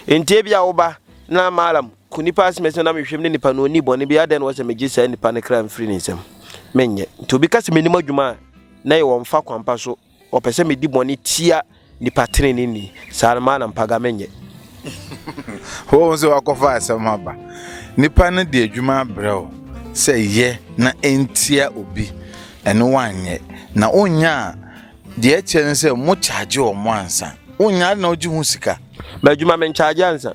Enti ebia wo ba, na Malam, ko nnipa asmɛs no nam nhwehwɛm ne nipa no onni bɔne biara adɛn na wɔsɛ megye saa nipa no kra mfiri ne nsam? Menyɛ. Nti obi ka sɛ menni m'adwuma a, na ɛyɛ ɔmfa kwampa so, ɔpɛ sɛ medi bɔne tia nipa treneeni. Saa no Malam Paga menyɛ. Wohu sɛ wakɔfa asɛm ho aba. Nipa no de adwuma abrɛ wo sɛ yɛ na ɛntia obi, ɛno woanyɛ, na wonyaa Deɛ ɛkyerɛ ne sɛ mo kyaagye wɔn ansa. Wonnya ade na wogye ho sika. M'adwuma menkyaagye ansa.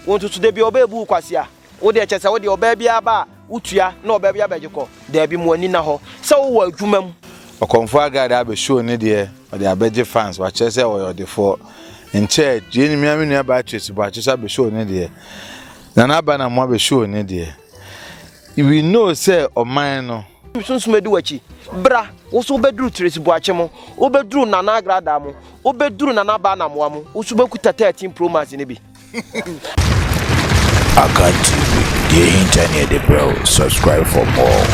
Wo nso so da biara ɔbaa bu wo kwasea. Wo deɛ kyerɛ sɛ wo deɛ ɔbaa biara ba a wotua na ɔbaa biara bɛgye kɔ. Daabi mo ani nna hɔ sɛ wowɔ adwuma mu. Ɔkɔmfoɔ Agard abɛ show ne deɛ ɔde abɛgye fans wakyerɛ sɛ ɔyɛ ɔdefoɔ. Nkyɛ yei ne mea me nua Beatrice Boakye nso abɛ show ne deɛ. Nana Aba Namoa abɛ show ne deɛ. We know sɛ ɔman no. Sunsum adi w'akyi. Bra, wo nso wobɛduru Tracy Boakye mo, wobɛduru Nana Agradaa mo, wobɛduru Nana Abaa Namoa mo, wo nso wobɛkuta 13 Pro Max no bi. Akan TV, deɛ ɛhinta ne yɛde brɛ wo, subscribe for more.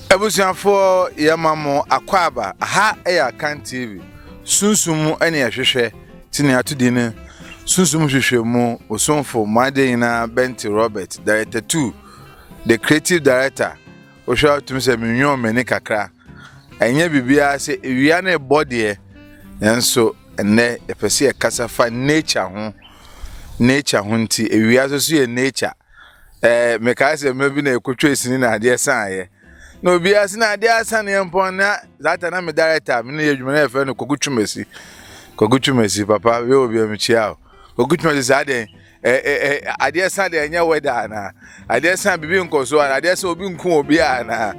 Abusuafoɔ yɛma mo akwaaba, aha yɛ Akan TV, sunsum ɛne ɛhwehwɛ, ti ne ato din no, sunsum hwehwɛ mu, osomfo, mo adeɛ nyinaa, Benty Robert, Director 2, The creative director wohwɛ a wotumi sɛ menwoo m'ani kakra ɛnyɛ biribiara sɛ ewia no ɛbɔ deɛ nanso ɛnɛ yɛpɛ sɛ yɛkasa fa nature ho nature ho nti ewia nso so yɛ nature ɛɛ mekae sɛ mma bi na ɛkɔtwa sini na adeɛ saneɛ na obiara sɛ na adeɛ asaneɛ mpɔn na zata na me director me ne yɛ adwuma na yɛfrɛ no kɔkutwumasi kɔkutwumasi papa wei wɔ bia mekyia o kɔkutwumasi saa deɛn ɛ ɛ ɛ adeɛ sa deɛ ɛnyɛ wɛda anaa adeɛ sa biribi nkɔ so anaa adeɛ sa obi nko obi anaa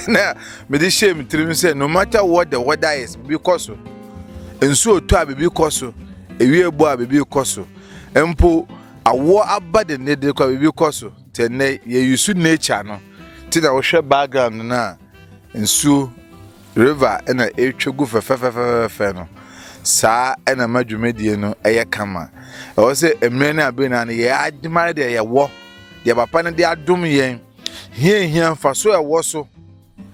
na mede hyɛ me tirim sɛ no matter what the weather is biribi kɔ so nsuo tɔ a biribi kɔ so ewie bɔ a biribi kɔ so mpo awoɔ aba de ne de kɔ a biribi kɔ so te nnɛ yɛyi so nature no te na wohwɛ background no a nsuo River na ɛretwa gu fɛfɛɛfɛfɛfɛɛfɛ no, saa na ɛma dwumadie no yɛ kama. Ɛwɔ sɛ mmerɛ ne abere nyinaa no yɛn adwuma no deɛ yɛwɔ, deɛ papa no de adom yɛn, hia hia mfa so ɛwɔ so.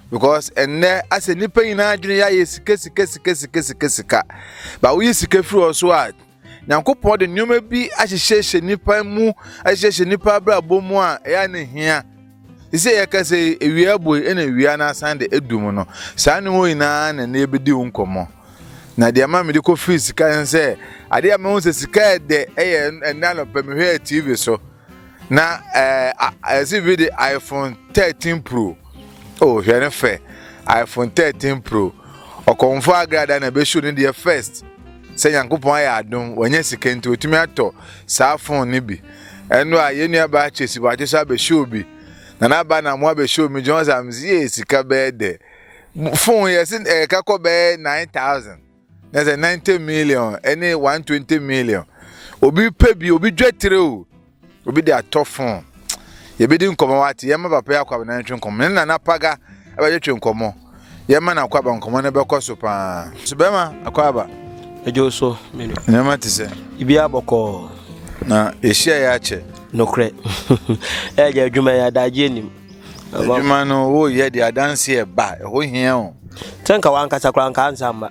Because ɛnnɛ asɛ nnipa nyinaa adwene yɛ ayɛ sika sika sika sika sika sika. Ba woyi sika firi hɔ so a, Nyankopɔn de nneɛma bi ahyehyɛhyɛ nnipa mu ahyehyɛhyɛ nnipa abrabɔ mu a ɛyɛ a na ehia. Te sɛ yɛka sɛ ewia abue ɛna ewia no asan de adu mu no, saa nneɛma wɔ nyinaa na ɛnna yɛbɛdi ho nkɔmmɔ. Na deɛ ama mede kɔfiri sika ne sɛ, adeɛ a mahu sɛ sika yɛ dɛ ɛyɛ ɛnna anɔpa mehwɛɛ TV so na ɛɛ ɛsi bi de iPhone 13 Pro. Oh, hwɛ ne fɛ. iPhone 13 Pro. Ɔkɔmfo agrada na ɛbɛhyew ne deɛ first. Sɛ Nyankopɔn ayɛ adom, wanya sika nti otumi atɔ saa fon no bi. Ɛno a, yɛn nua baa Chase wakye so abɛhyɛ obi. Na n'aba na mo abɛhyɛ omi gye wɔn sɛ am sɛ yɛ sika bɛyɛ dɛ. Fon yɛ sɛ ɛyɛ ka kɔ bɛyɛ 9000. Na sɛ 90 million ɛne 120 million. Obi pɛ bi, obi dwa tire o. Obi de atɔ fon. Yɛbɛdi nkɔmmɔ wate. Yɛma papa yi akwaba na yɛtwe nkɔmmɔ. Ne nana paga ɛbɛtwetwe nkɔmmɔ. Yɛma na akwaba nkɔmmɔ no bɛkɔ so paa. So bɛma akwaba. Ɛdwo so menu. Nneɛma te sɛ. Ibi abɔkɔɔ. Na yɛhyia yɛ akyɛ. Nokorɛ. Ɛyɛ adwuma yɛ adagye anim. Adwuma no woyɛ de adanseɛ ba. Ɛho hia o. Sɛ nka wankasa koraa nka ansa mma.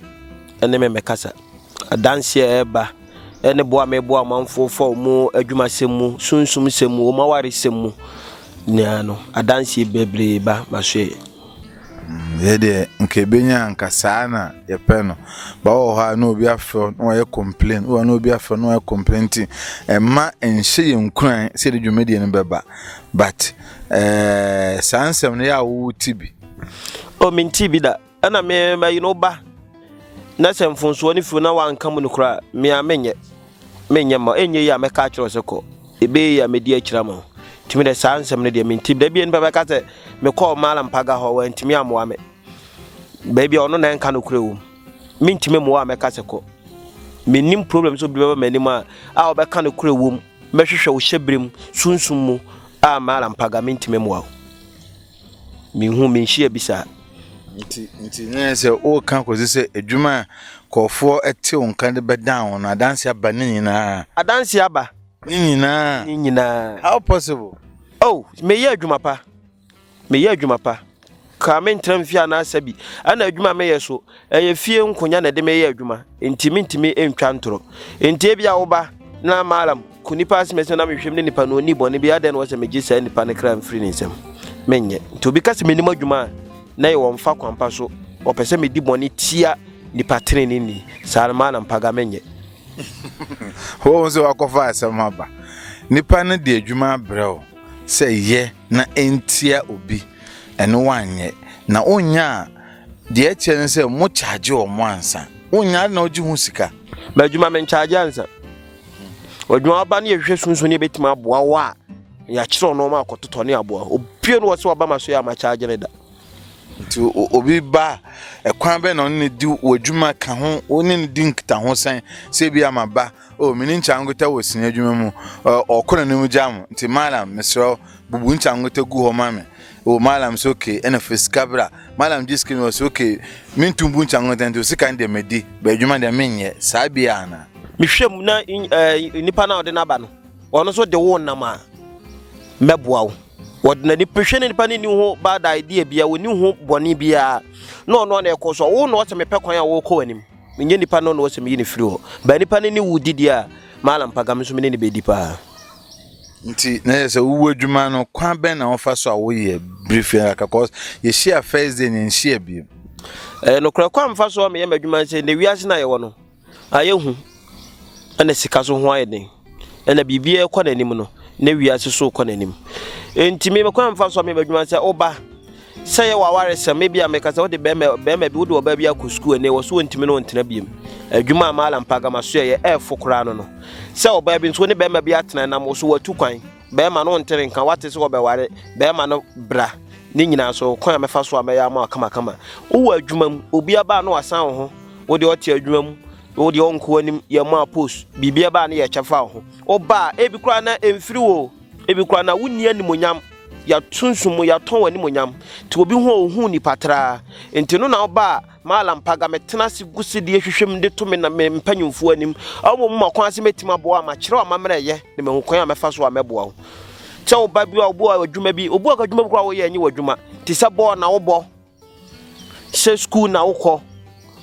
Ɛne me mɛkasa. Adanseɛ a ɛba ne boa a meboa ɔmanfoɔ fa ɔmo adwumasɛm mu, sunsum sɛm mu, ɔmo awaresɛm mu nyinaa no, adanseɛ bebree ba maso yɛ. yɛ deɛ nka ɛbɛnya nka saa na yɛpɛ no ba wɔ hɔ a na obi afrɛ na wɔyɛ complain wɔ na obi afrɛ na wɔyɛ complain nti ɛma nhyɛ yɛn nkuran sɛ de dwumadie no bɛba but ɛɛ eh, saa nsɛm no yɛ a wowo ti bi o oh, menti bi da Ɛna me mayi no ba na sɛ mfonsoɔ no firi na wanka mu no koraa me a menyɛ menyɛ ma ɛnyɛ yi a mɛka akyerɛ sɛ kɔ ɛbɛyɛ yi a mɛdi akyira ma ntumi dɛ saa nsɛm no deɛ menti da bia nipa bɛka sɛ mekɔɔ maala mpaga hɔ wantumi amoa me baabi a ɔno na ɛnka no korɛ wɔ mu mentumi mmoa a mɛka sɛ kɔ menim problem sɛ obi bɛba m'anim a a ɔbɛka no korɛ wɔ mu mɛhwehwɛ wo hyɛ berɛ mu sunsum mu a maala mpaga mentumi mmoa wo Menhu, menhyia bi saa. Nti, nti na yɛ sɛ woka kɔsi sɛ adwuma a kɔɔfoɔ te wo nka de bɛdan wo no, adanse aba ne nyinaa. Adanse aba. Ne nyinaa. Ne nyinaa. How possible? Oh, meyɛ adwuma pa. Meyɛ adwuma pa. Kaa me ntra mfie anaasa bi. Ɛna adwuma a meyɛ so. Ɛyɛ fie nkonya na ɛde meyɛ adwuma, enti mintumi ntwa ntoro. Enti ebia wo ba, na Malam, ko nipa asinasin na mehwɛ mu ne nipa no onni bɔne bi, adɛn na wɔ sɛ megye saa nipa no kra mfiri ne nsam? Menyɛ. Nti obi ka sɛ mennim adwuma a, na ɛyɛ wɔ mfa kwampa so, ɔpɛ sɛ medi bɔne tia nipa treneeni, saa no Malam Paga, menyɛ. Wohu sɛ woakɔfa asɛm aba. Nipa no de adwuma abrɛ wo sɛ yɛ na ntia obi, ɛno woanyɛ, na wonyaa Deɛ ɛkyerɛ ne sɛ mo charge wɔn ansa. Wonnya ade na wogye ho sika. Ba adwuma me nkyagye ansa. Adwuma ɔba ne yɛhwehwɛ sunsun ne yɛbɛtumi aboa wo a yɛakyerɛ ɔno ɔma akɔtotɔ ne aboa. Obie no wɔ sɛ ɔba ma so yɛ ama charge ne da. Nti obi ba ɛkwan bɛn na ɔne ne di wɔ adwuma ka ho, wo ne ne di nkitaho sɛn sɛ bi ama ba o mini nkyangota wɔ sini adwuma mu ɔkɔ n'anim gya mo nti malam mesrɛ wo bubu nkyangota gu hɔ ma me o malam sɛ okay ɛna fɛ sika bra malam gye sika mi wɔ sɛ okay mentum bu nkyangota nti sika no deɛ madi ba adwuma deɛ menyɛ saa bia ana mehwɛ mu na nipa no a ɔde n'aba no ɔno nso de wo nam a mɛboa wo wɔde n'ani pehwɛ ne nipa ne ni ho bad idea bia wɔni ho bɔne biara na ɔno a na ɛkɔ so wo na ɔsɛ mepɛ kwan a wɔkɔ w'anim Menyɛ nipa no na wɔsɛ meyi no firi hɔ. But nipa no ne wo didi a, Mallam Paga, me nso me ne no bɛdi paa. Nti na yɛ sɛ wowu adwuma no kwan bɛn na wɔfa so a woyɛ bere fie aka cause yɛhyia first day ne nhyia biem. Ɛyɛ nokorɛ kwan mfa so a meyɛ m'adwuma sɛ nnɛ wiase no a yɛwɔ no ayɛ hu ɛna sika so ho ayɛ den. Ɛna biribiara rekɔ n'anim no, na wiase so rekɔ n'anim. Enti me kwan mfa so a meba adwuma sɛ woba sɛ yɛ w'awaresɛm ebi a meka sɛ wode bɛrima bɛrima bi wode ɔbaa bi akɔ sukuu ɛnɛ wɔ so wɔntumi ne wɔntena biem adwuma a maala mpaga ma so yɛ ɛɛfo koraa no no sɛ ɔbaa bi nso ne bɛrima bi atena nam wo so watu kwan bɛrima no ntere nka wate sɛ wɔbɛware bɛrima no bra ne nyinaa so kwan a mɛfa so a mɛyɛ ama wakamakama wowɔ adwuma mu obi aba a na wasan wo ho wode ɔte adwuma mu wo deɛ ɔnko anim yɛ maa post biribi ɛba a ne yɛ kyɛfa wo ho woba a ebi koraa na ɛmfiri wo ebi koraa na wonni animonyam yɛatonso mu yɛatɔn animonyam nti obi ho a ɔhu nipa traa nti no na woba a maalam paga metena ase gu se deɛ hwehwɛm de to me na me mpanyimfoɔ anim ɔmo mu ma kwan ase mɛtumi aboa ma kyerɛ ɔma mmerɛ yɛ na mahu kwan a mɛfa so a mɛboa wo sɛ woba bi a wobu a adwuma bi wobu a adwuma bi koraa woyɛ nye w'adwuma te sɛ bɔɔl na wobɔ Sɛ sukuu na wokɔ,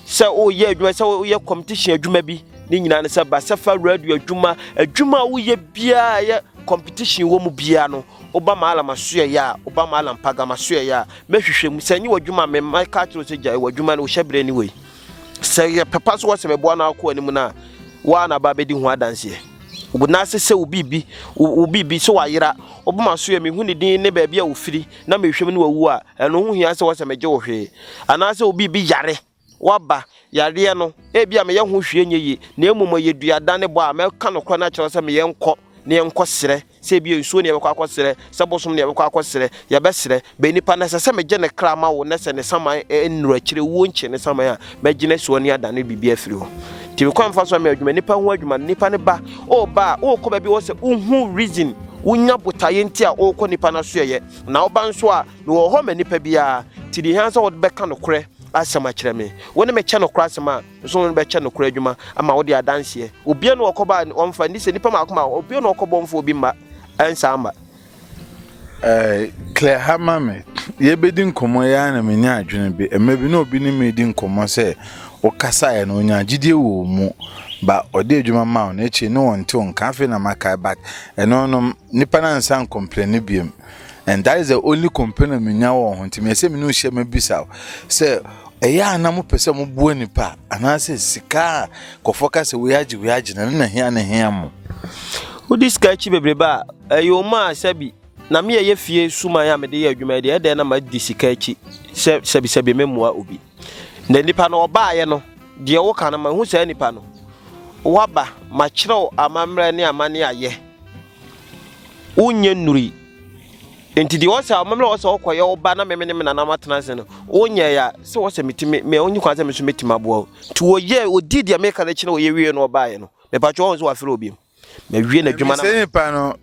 sɛ woreyɛ adwuma, sɛ woyɛ competition adwuma bi, ne nyinaa no sɛ basafa radio adwuma, adwuma a woyɛ biara yɛ competition wɔ mu biara no, woba malam asoɛyɛ a, woba malam pagam asoɛyɛ a, mɛhwehwɛ mu. Sɛ nye w'adwuma a, mɛma ka akyerɛ sɛ gyae w'adwuma no, wohyɛ berɛ ni wei. Sɛ yɛ papa so wɔ sɛ mɛboa no akɔ anim no a, woa na ba bɛdi ho adanseɛ. Wobɛnase sɛ wo biribi, wo biribi sɛ wayera, wobɛma asoɛ, mehu ne din ne baabi a ofiri. na mehwɛ mu na wawu a, ɛno ho hia sɛ wɔsɛ megye wo hwee? Anaasɛ obi bi yare, waba, yareɛ no, ebia meyɛ ho hwee nyɛ yie, na mmom ɛyɛ dua dane bɔ a, mɛka nokorɛ no akyerɛ wo sɛ me yɛnkɔ na yɛnkɔ srɛ, sɛ ebia nsuo na yɛbɛkɔ akɔ srɛ, sɛ bosom na yɛbɛkɔ akɔ srɛ, yɛbɛsrɛ, bɛ nipa no ɛsɛ sɛ megye ne kra ma wo, na sɛ ne saman nnuru akyire wuo nkyee ne saman a, Mɛgyina asuo ne adan no biribi afiri hɔ. Nti mekɔ mfa so ama adwuma nipa ho adwuma no nipa no ba ɔba a ɔkɔ baabi wɔ sɛ wohu reason wonya botaeɛ nti a ɔkɔ nipa no so yɛyɛ na ɔba nso a mewɔ hɔ ma nipa biara nti deɛ hia sɛ wɔde bɛka nokorɛ asɛm akyerɛ me wo ne mekyɛ nokorɛ asɛm a nso wo ne bɛkyɛ nokorɛ adwuma ama wode adanseɛ obia ne ɔkɔba ɔmfa ni sɛ nipa maako ma obia ne ɔkɔbɔ mfa obi mma ɛnsa ama Eh, Claire ha ma me. Yɛbɛdi nkɔmmɔ yi ara na menya adwene bi. Mmerɛ bi na obi ne me redi nkɔmmɔ sɛ wokasaeɛ no ɔnyaa gyidie wɔ wo mu. Ba ɔde adwuma maa wo no akyire ne wɔnte wo nka. Afei na makae but ɛno no nnipa no ansan ankɔmplɛne bio. And that is the only complain a menya wɔ wo ho nti meyɛ sɛ me ne wo hyia mabisa wo sɛ ɛyɛ a na mopɛ sɛ moboa nnipa anaasɛ sika a nkurɔfoɔ ka sɛ wei agye wei agye no ɛno na hia na ɛhia mo. Wode sika akyi bebrebe a. Ɛyoo maa sɛbi na me a ɛyɛ fie suman a mede yɛ adwuma yi deɛ ɛdɛn na madi sika akyi sɛ sɛbisɛbi memmua obi. Na nipa no ɔbaeɛ no deɛ woka no mahu saa nipa no waba makyerɛw amammerɛ ne amane ayɛ wonyɛ nnuri nti deɛ ɔsɛ amammerɛ ɔsɛ ɔkɔyɛ wo ba na meme ne me nana matena ase no wonyɛ ya sɛ ɔsɛ metumi me onye kwan sɛ me so metumi aboa wo nti wɔyɛ ɔdii deɛ meka no akyi na wɔyɛ wie no ɔbaeɛ no mepatwɛ ɔho sɛ wafrɛ obi mu Mawie n'adwuma na. Mesɛ nipa no,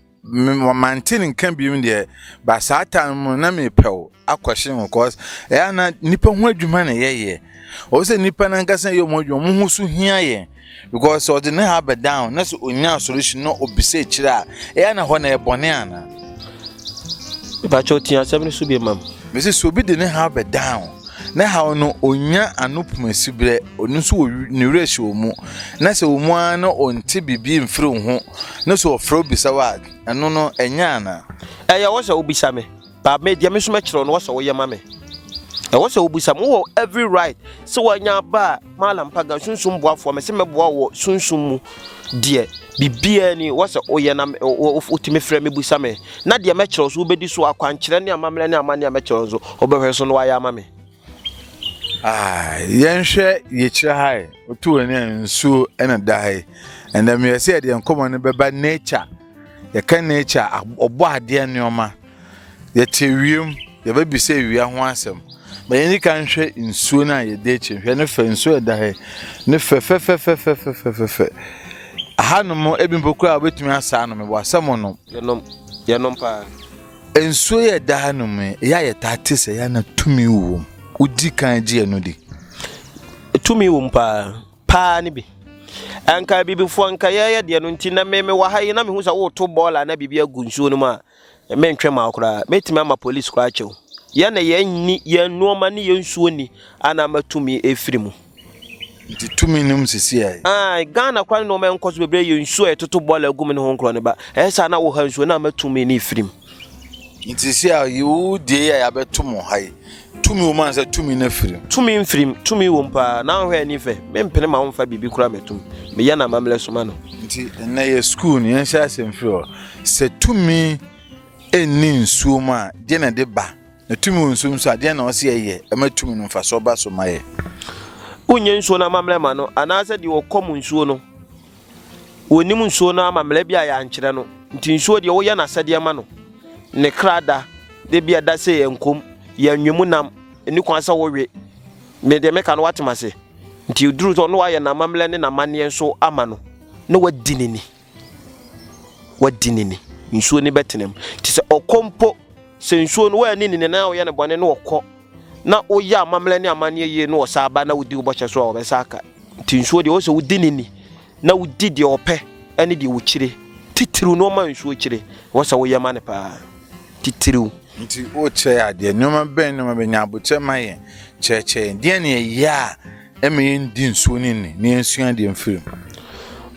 mante ne nka biom deɛ, ba saa ta no mu na mepɛw akɔhye ho cause ɛyɛ na nipa ho adwuma na yɛyɛ. Ɔwɔ sɛ nipa no ankasa yɛ ɔmo adwuma, ɔmo ho so hia yɛn because ɔde ne ha bɛ down na sɛ onya solution na obisa akyire a ɛyɛ na hɔ na ɛbɔne ana. Mepakyɛw tie asɛm no so bi ma me. Mese sɛ obi de ne haw bɛdan wo, ne haw no onya ano poma siberɛ, ɔno nso wɔ ne werɛ hyɛ wo mu, na sɛ wɔ mu ara na ɔnte biribi mfiri wo ho, na sɛ ɔfrɛ wo bisa wo a, ɛno no ɛnyɛ anaa? Ɛyɛ wɔ sɛ wobisa me, but me deɛ me nso mɛkyerɛ wo na wɔ sɛ woyɛ ma me. Ɛwɔ sɛ wobisa me, wowɔ every right sɛ wanya ba a, Mallam Pagan, Sunsum boafoɔ, mese mɛboa wo wɔ sunsum mu deɛ biribiara ni wɔ sɛ woyɛ na wotumi frɛ me busa me na deɛ mɛkyerɛ wo so wobɛdi so akwankyerɛ ne amammerɛ ne amanne a mɛkyerɛ wo nso wobɛhwɛ so na wayɛ ama me. Ah, yɛnhwɛ yɛkyerɛ ha yi wotu w'ani a nsuo na da ha yi ɛnna meyɛ sɛ yɛde nkɔmmɔ no bɛba nature yɛka nature ɔbɔ adeɛ nneɛma Yɛte ewia mu, yɛbɛbisa ewia ho asɛm. Ma yɛn di kan nhwɛ nsuo no a yɛda akyi no. Hwɛ ne fɛ, nsuo a ɛda ha yi, ne fɛ fɛfɛfɛfɛfɛfɛfɛ. Ahanom ebi mpo koraa wobɛtumi asa anom, ɛwɔ asɛm ɔnom. Yɛnom, yɛnom paa. Nsuo yɛ ɛda ha nom yi, ɛyɛ a yɛtaa te sɛ yɛa na tumi wɔ mu. Wodi kan gye ɛno di. Tumi wɔ mu paa, paa ne bi. Anka abibifoɔ, anka yɛyɛ deɛ no nti, na me mewɔ ha yi na mehu sɛ woreto bɔɔla na biribi agu nsuo no mu a, Mentwe mma wo koraa. Mɛtumi ama polis koraa akyɛ wo. Yɛn na yɛn nni, yɛn nnoɔma ne yɛn nsuo nni a na ama tumi ɛfiri mu. Nti tumi nom sisi ai. Ai, Ghana koraa ne nnoɔma ɛnkɔ so bebree yɛ nsuo a yɛtoto bɔɔla agu mu ne ho nkorɔ ne ba. Ɛyɛ saa na wo ha nsuo na ama tumi ne ɛfiri mu. Nti sisi a yi wo deɛ yi a yɛabɛto mo ha yi, Tumi wom ansa tumi no afirim. Tumi mfirim, tumi wom paa. Na wohwɛ ani fɛ, mempene ma womfa biribi kora m'atum. Meyɛ no amammerɛ so ma no. Nti ɛnnɛ yɛ sukuu no, yɛnhyɛ asɛm firi hɔ. Sɛ tumi nni nsuo mu a, deɛ na ɛde ba? Na tumi wɔ nsuo mu nso a, deɛ na ɔsɛ yɛyɛ ɛma tumi no mfasoɔ ba so ma yɛ? Wonyɛ nsuo no amammerɛ ma no, anaasɛ deɛ ɔkɔ mu nsuo no. Wɔnnim nsuo no amammerɛ bi a yɛankyerɛ no, nti nsuo deɛ woyɛ no asɛdeɛ ma no. Ne kra da, de bi ɛda sɛ yɛn kom, yɛn nwe mu nam, ɛni kwan sɛ wowe. Me deɛ meka no woate m'ase. Nti ɛduru sɛ ɔno ayɛ n'amammerɛ ne n'amanneɛ nso ama no, na wadi ne ni. Wadi ne ni. Nsuo no bɛtena mu. Nti sɛ ɔkɔ mpo, sɛ nsuo no woanni ne ni na woyɛ no bɔne na ɔkɔ, na woyɛ amammerɛ ne amanneɛ yie na ɔsaa ba na wodi wo bɔhyɛ so a ɔbɛsa aka nti nsuo deɛ ɔsɛ wodi ne ni na wodi deɛ ɔpɛ ɛne deɛ ɔkyire titiriw na ɔma nsuo kyire wɔsɛ woyɛ ma ne paa titiriw nti wokyerɛ adeɛ nneɛma bɛn nneɛma bɛnya abokyerɛ ma yɛn kyerɛkyerɛ yɛn deɛ ne ɛyɛ a ɛma yɛndi nsuo ne ni na yɛnsua deɛ mfiri mu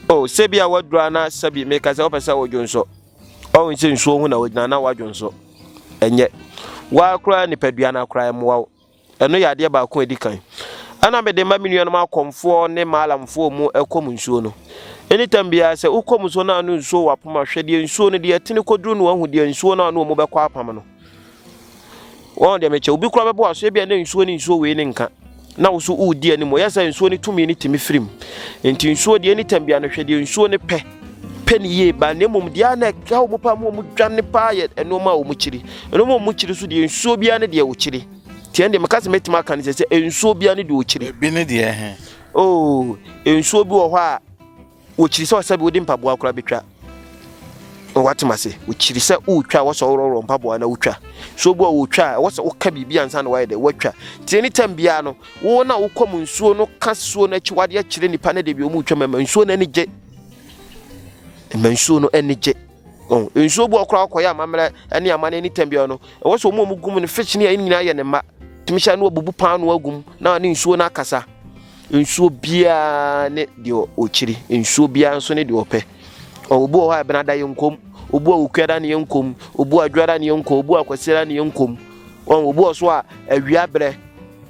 o sɛbi a wadura na sɛbi meka sɛ wopɛ sɛ wodwo nso Ɔho sɛ nsuo ho na wogyina na wadwo nso. Ɛnyɛ. Waa koraa nipadua no akora ɛmmoa wo. Ɛno yɛ adeɛ baako a ɛdi kan. Ɛna mede ma me nuanom akɔmfoɔ ne maalamfoɔ mu ɛkɔm nsuo no. Anytime biara sɛ wokɔm nsuo no a na nsuo wɔ apam a, hwɛ deɛ nsuo no deɛ ɛtene kɔduru na wahu deɛ nsuo no a na wɔn bɛkɔ apam no. Wɔn deɛ mekyɛ obi kura bɛbɔ aso ebia na nsuo ne nsuo wei ne nka na wo so wodi anim ɔyɛ sɛ nsuo ne tumi ne tumi firim nti nsuo deɛ ne tam bia no hwɛ deɛ nsuo ne pɛ pɛ ne yie ba na mmom deɛ na ɛka wɔn paa mu wɔn dwane paa yɛ nneɛma a wɔn kyiri nneɛma a wɔn kyiri so deɛ nsuo bia ne deɛ wɔkyiri tiɛn deɛ meka sɛ mɛtumi aka ne sɛ sɛ nsuo bia ne deɛ wɔkyiri. ebi ne deɛ he. oo oh, nsuo bi wɔ hɔ a. Wɔkyiri sɛ ɔsɛ bi wode mpaboa koraa bɛtwa na woatem ase. Wɔkyiri sɛ wotwa wɔ sɛ worɔworɔ mpaboa na wotwa. So bi a wotwa a ɛwɔ sɛ woka biribi ansa na woayɛ dɛ woatwa. Nti ɛne tam biara no, wo na wokɔ mu nsuo no ka suo no akyi wadeɛ kyerɛ nnipa no de bi ɔmu twa ma ɛma nsuo no ani gye. Ɛma nsuo no ani gye. Oh, nsuo bi ɔkora ɔkɔyɛ amammerɛ ne amane ɛne tam biara no, ɛwɔ sɛ ɔmu ɔmu gum no fish ne ɛne nyinaa yɛ ne mma. Tumi hyɛ no abubu paano agum na ne nsuo no akasa. Nsuo biara ne deɛ ɔkyiri, nsuo biara nso ne deɛ ɔpɛ. Obu wɔ hɔ a ɛbɛnada yɛ nkom, obu a okuada ne yɛ nkom, obu a adwada ne yɛ nkom, obu a kwasiada ne yɛ nkom. Wɔn obu wɔ so a awia berɛ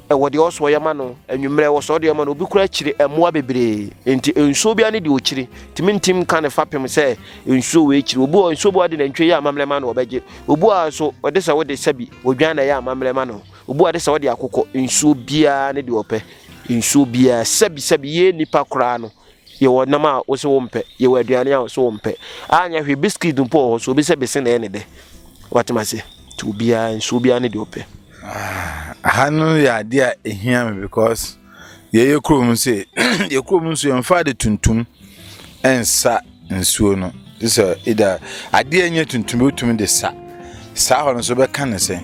ɛwɔ deɛ ɔsɔ yɛ ma no, anwummerɛ ɛwɔ sɔ deɛ ma no, obi kura kyiri mmoa bebree. Nti nsuo biara ne deɛ ɔkyiri, tumi ntim ka ne fapem sɛ nsuo wɔ akyiri. Obu wɔ nsuo bu a ɔde nantwie yɛ amammerɛ ma no ɔbɛgye, obu a nso ɔde sɛ wode sɛbi odwan na ɛyɛ amammerɛ ma no. Obua de sɛ ɔde akokɔ nsuo biara ne deɛ ɔpɛ nsuo biara sɛbi sɛbi yɛ nipa koraa no yɛwɔ nam a wosɛ wo mpɛ yɛwɔ aduane a wosɛ wo mpɛ anyɛ hwee biskit mpo wɔ hɔ so obi sɛ bese na ɛne dɛ watema se nti obiara nsuo biara ne deɛ ɔpɛ. Ah, ha no yɛ adeɛ a ehia me because Yɛyɛ kurom sɛ yɛ kurom nso yɛmfa ade tuntum nsa nsuo no te sɛ ida adeɛ nyɛ tuntum wotumi de sa saa hɔ no nso bɛka ne sɛ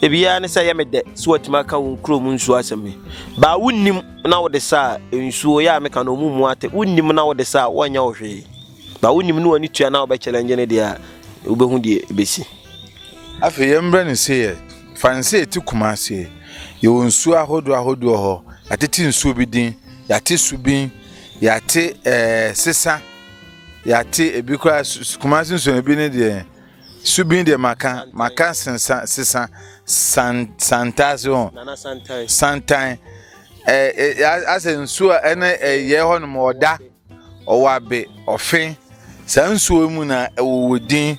ebiara ne sɛ yɛ me dɛ so watumi aka wo kurom nsuo asɛm yi baa wonnim na wode sa a nsuo yɛ a meka no ɔmu mu ate wonnim na wode sa a woanyɛ wo hwee baa wonnim ne w'ani tua na wobɛkyɛlɛ ngye ne deɛ a wobɛhu deɛ ɛbɛsi Afei yɛmbrɛ no se yɛ Franse eti Kumase. Yɛwɔ nsuo ahodoɔ ahodoɔ hɔ. Yɛate te nsuo bi din. Yɛate subin. Yɛate ɛɛ eh, sesa. Yɛate ebi koraa Kumase nsuo ebi ne deɛ subin deɛ maka maka sesa sesa san santaase ho. Nana santan. Santan. Ɛɛ eh, eh, asɛ nsuo a ɛne ɛyɛ eh, hɔ nom ɔda. Ɔwɔ abe, ɔfe, saa nsuo yi mu na ɛwɔ wɔ din.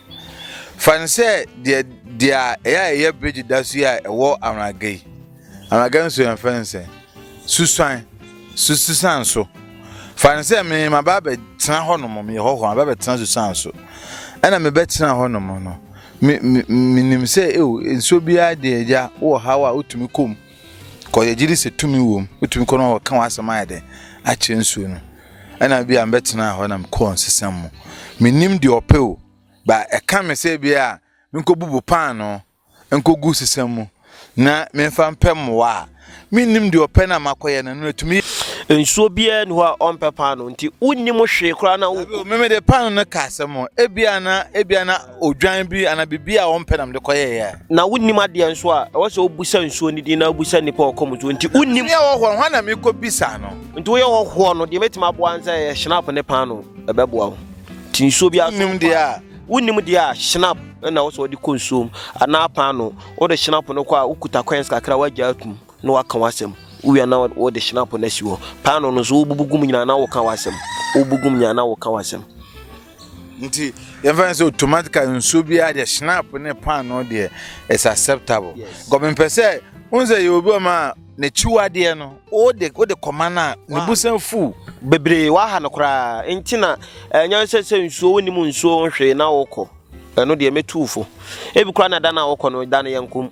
Fa no sɛ deɛ deɛ a ɛyɛ a ɛyɛ bere deda so yi a ɛwɔ Anwaga yi. Anwaga nsuo yɛn fɛn sɛ susan, su susan so. Fa no sɛ me ma ba bɛtena hɔ nom, meyɛ hɔ hɔ, aba bɛtena susan so. Ɛna mebɛtena hɔ nom no, menim sɛ eo nsuo biara deɛ agya wɔ ha a wotumi kɔ mu. kɔ yɛgye di sɛ tumi wom wotumi kɔ na wɔka w'asɛm ayɛ dɛn akyerɛ nsuo no ɛna bi a mbɛtena hɔ na mekɔɔ nsesɛm mu menim deɛ ɔpɛ o ba ɛka me sɛ bi a menkɔbubu paano nkɔgu sesɛm mu na memfa mpɛ mmoa a mennim deɛ ɔpɛ no a makɔyɛ no no atumi nsuo biara ni hɔ a ɔmpɛ paano nti wonnim hwee koraa na wo meme de paano no ka asɛm ebia na ebia na odwan bi anaa biribi a wɔmpɛ na mede kɔyɛeɛ a. Na wonnim adeɛ nso a, ɛwɔ sɛ wobisa nsuo no din na wobisa nnipa a wɔkɔ mu nso. Nti wonnim. Ɛyɛ hɔhoɔ, hwan na mekɔbisa no? Nti woyɛ hɔhoɔ no, deɛ mɛtumi aboa ne sɛ ɛyɛ Schnapp ne paano, ɛbɛboa wo. Nti nsuo biara so. Wonnim deɛ a. Wonnim deɛ a, Schnapp na ɛwɔ sɛ wɔde kɔ nsuo mu anaa paano. Wode Schnapp no kɔ a, wokuta coins kakra a woagya atum na woaka w'asɛm. Wowia na wode Schnapp no asi hɔ. Paano no nso, wobubu gu mu nyinaa na woka w'asɛm. Wobubu gu mu nyinaa na woka w'asɛm. nti yɛmfa no sɛ automatically nsuo biara deɛ schnapp ne paano deɛ is acceptable because mepɛ sɛ wohu sɛ yɛwɔ bi wɔ ma a n'akyiwadeɛ no wode wode kɔma no a ne busan fu bebree waha no koraa nti na ɛnyɛ sɛ sɛ nsuo wonim nsuo hwee na wokɔ ɛno deɛ mɛtu fo ebi koraa na da no a wokɔ no da no yɛnkom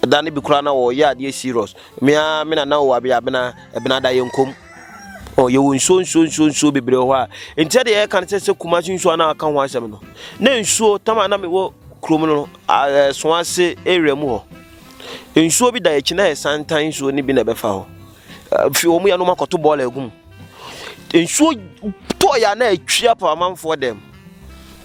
da no bi koraa na wɔyɛ adeɛ serious mea me nana wɔ abeabena ɛbena da yɛnkom Oh, yɛwɔ nsuo nsuo nsuo nsuo bebree wɔ hɔ a nkyɛn deɛ yɛka no sɛ sɛ kumase nsuo a na aka ho asɛm no na nsuo tam a na mewɔ kurom no ɛso ase area mu hɔ nsuo bi da akyi na yɛ santan nsuo no bi na ɛbɛfa hɔ fi wɔn yɛnom akɔto bɔɔla agu mu nsuo tɔɔ yɛ a na atwia pa amanfoɔ dɛm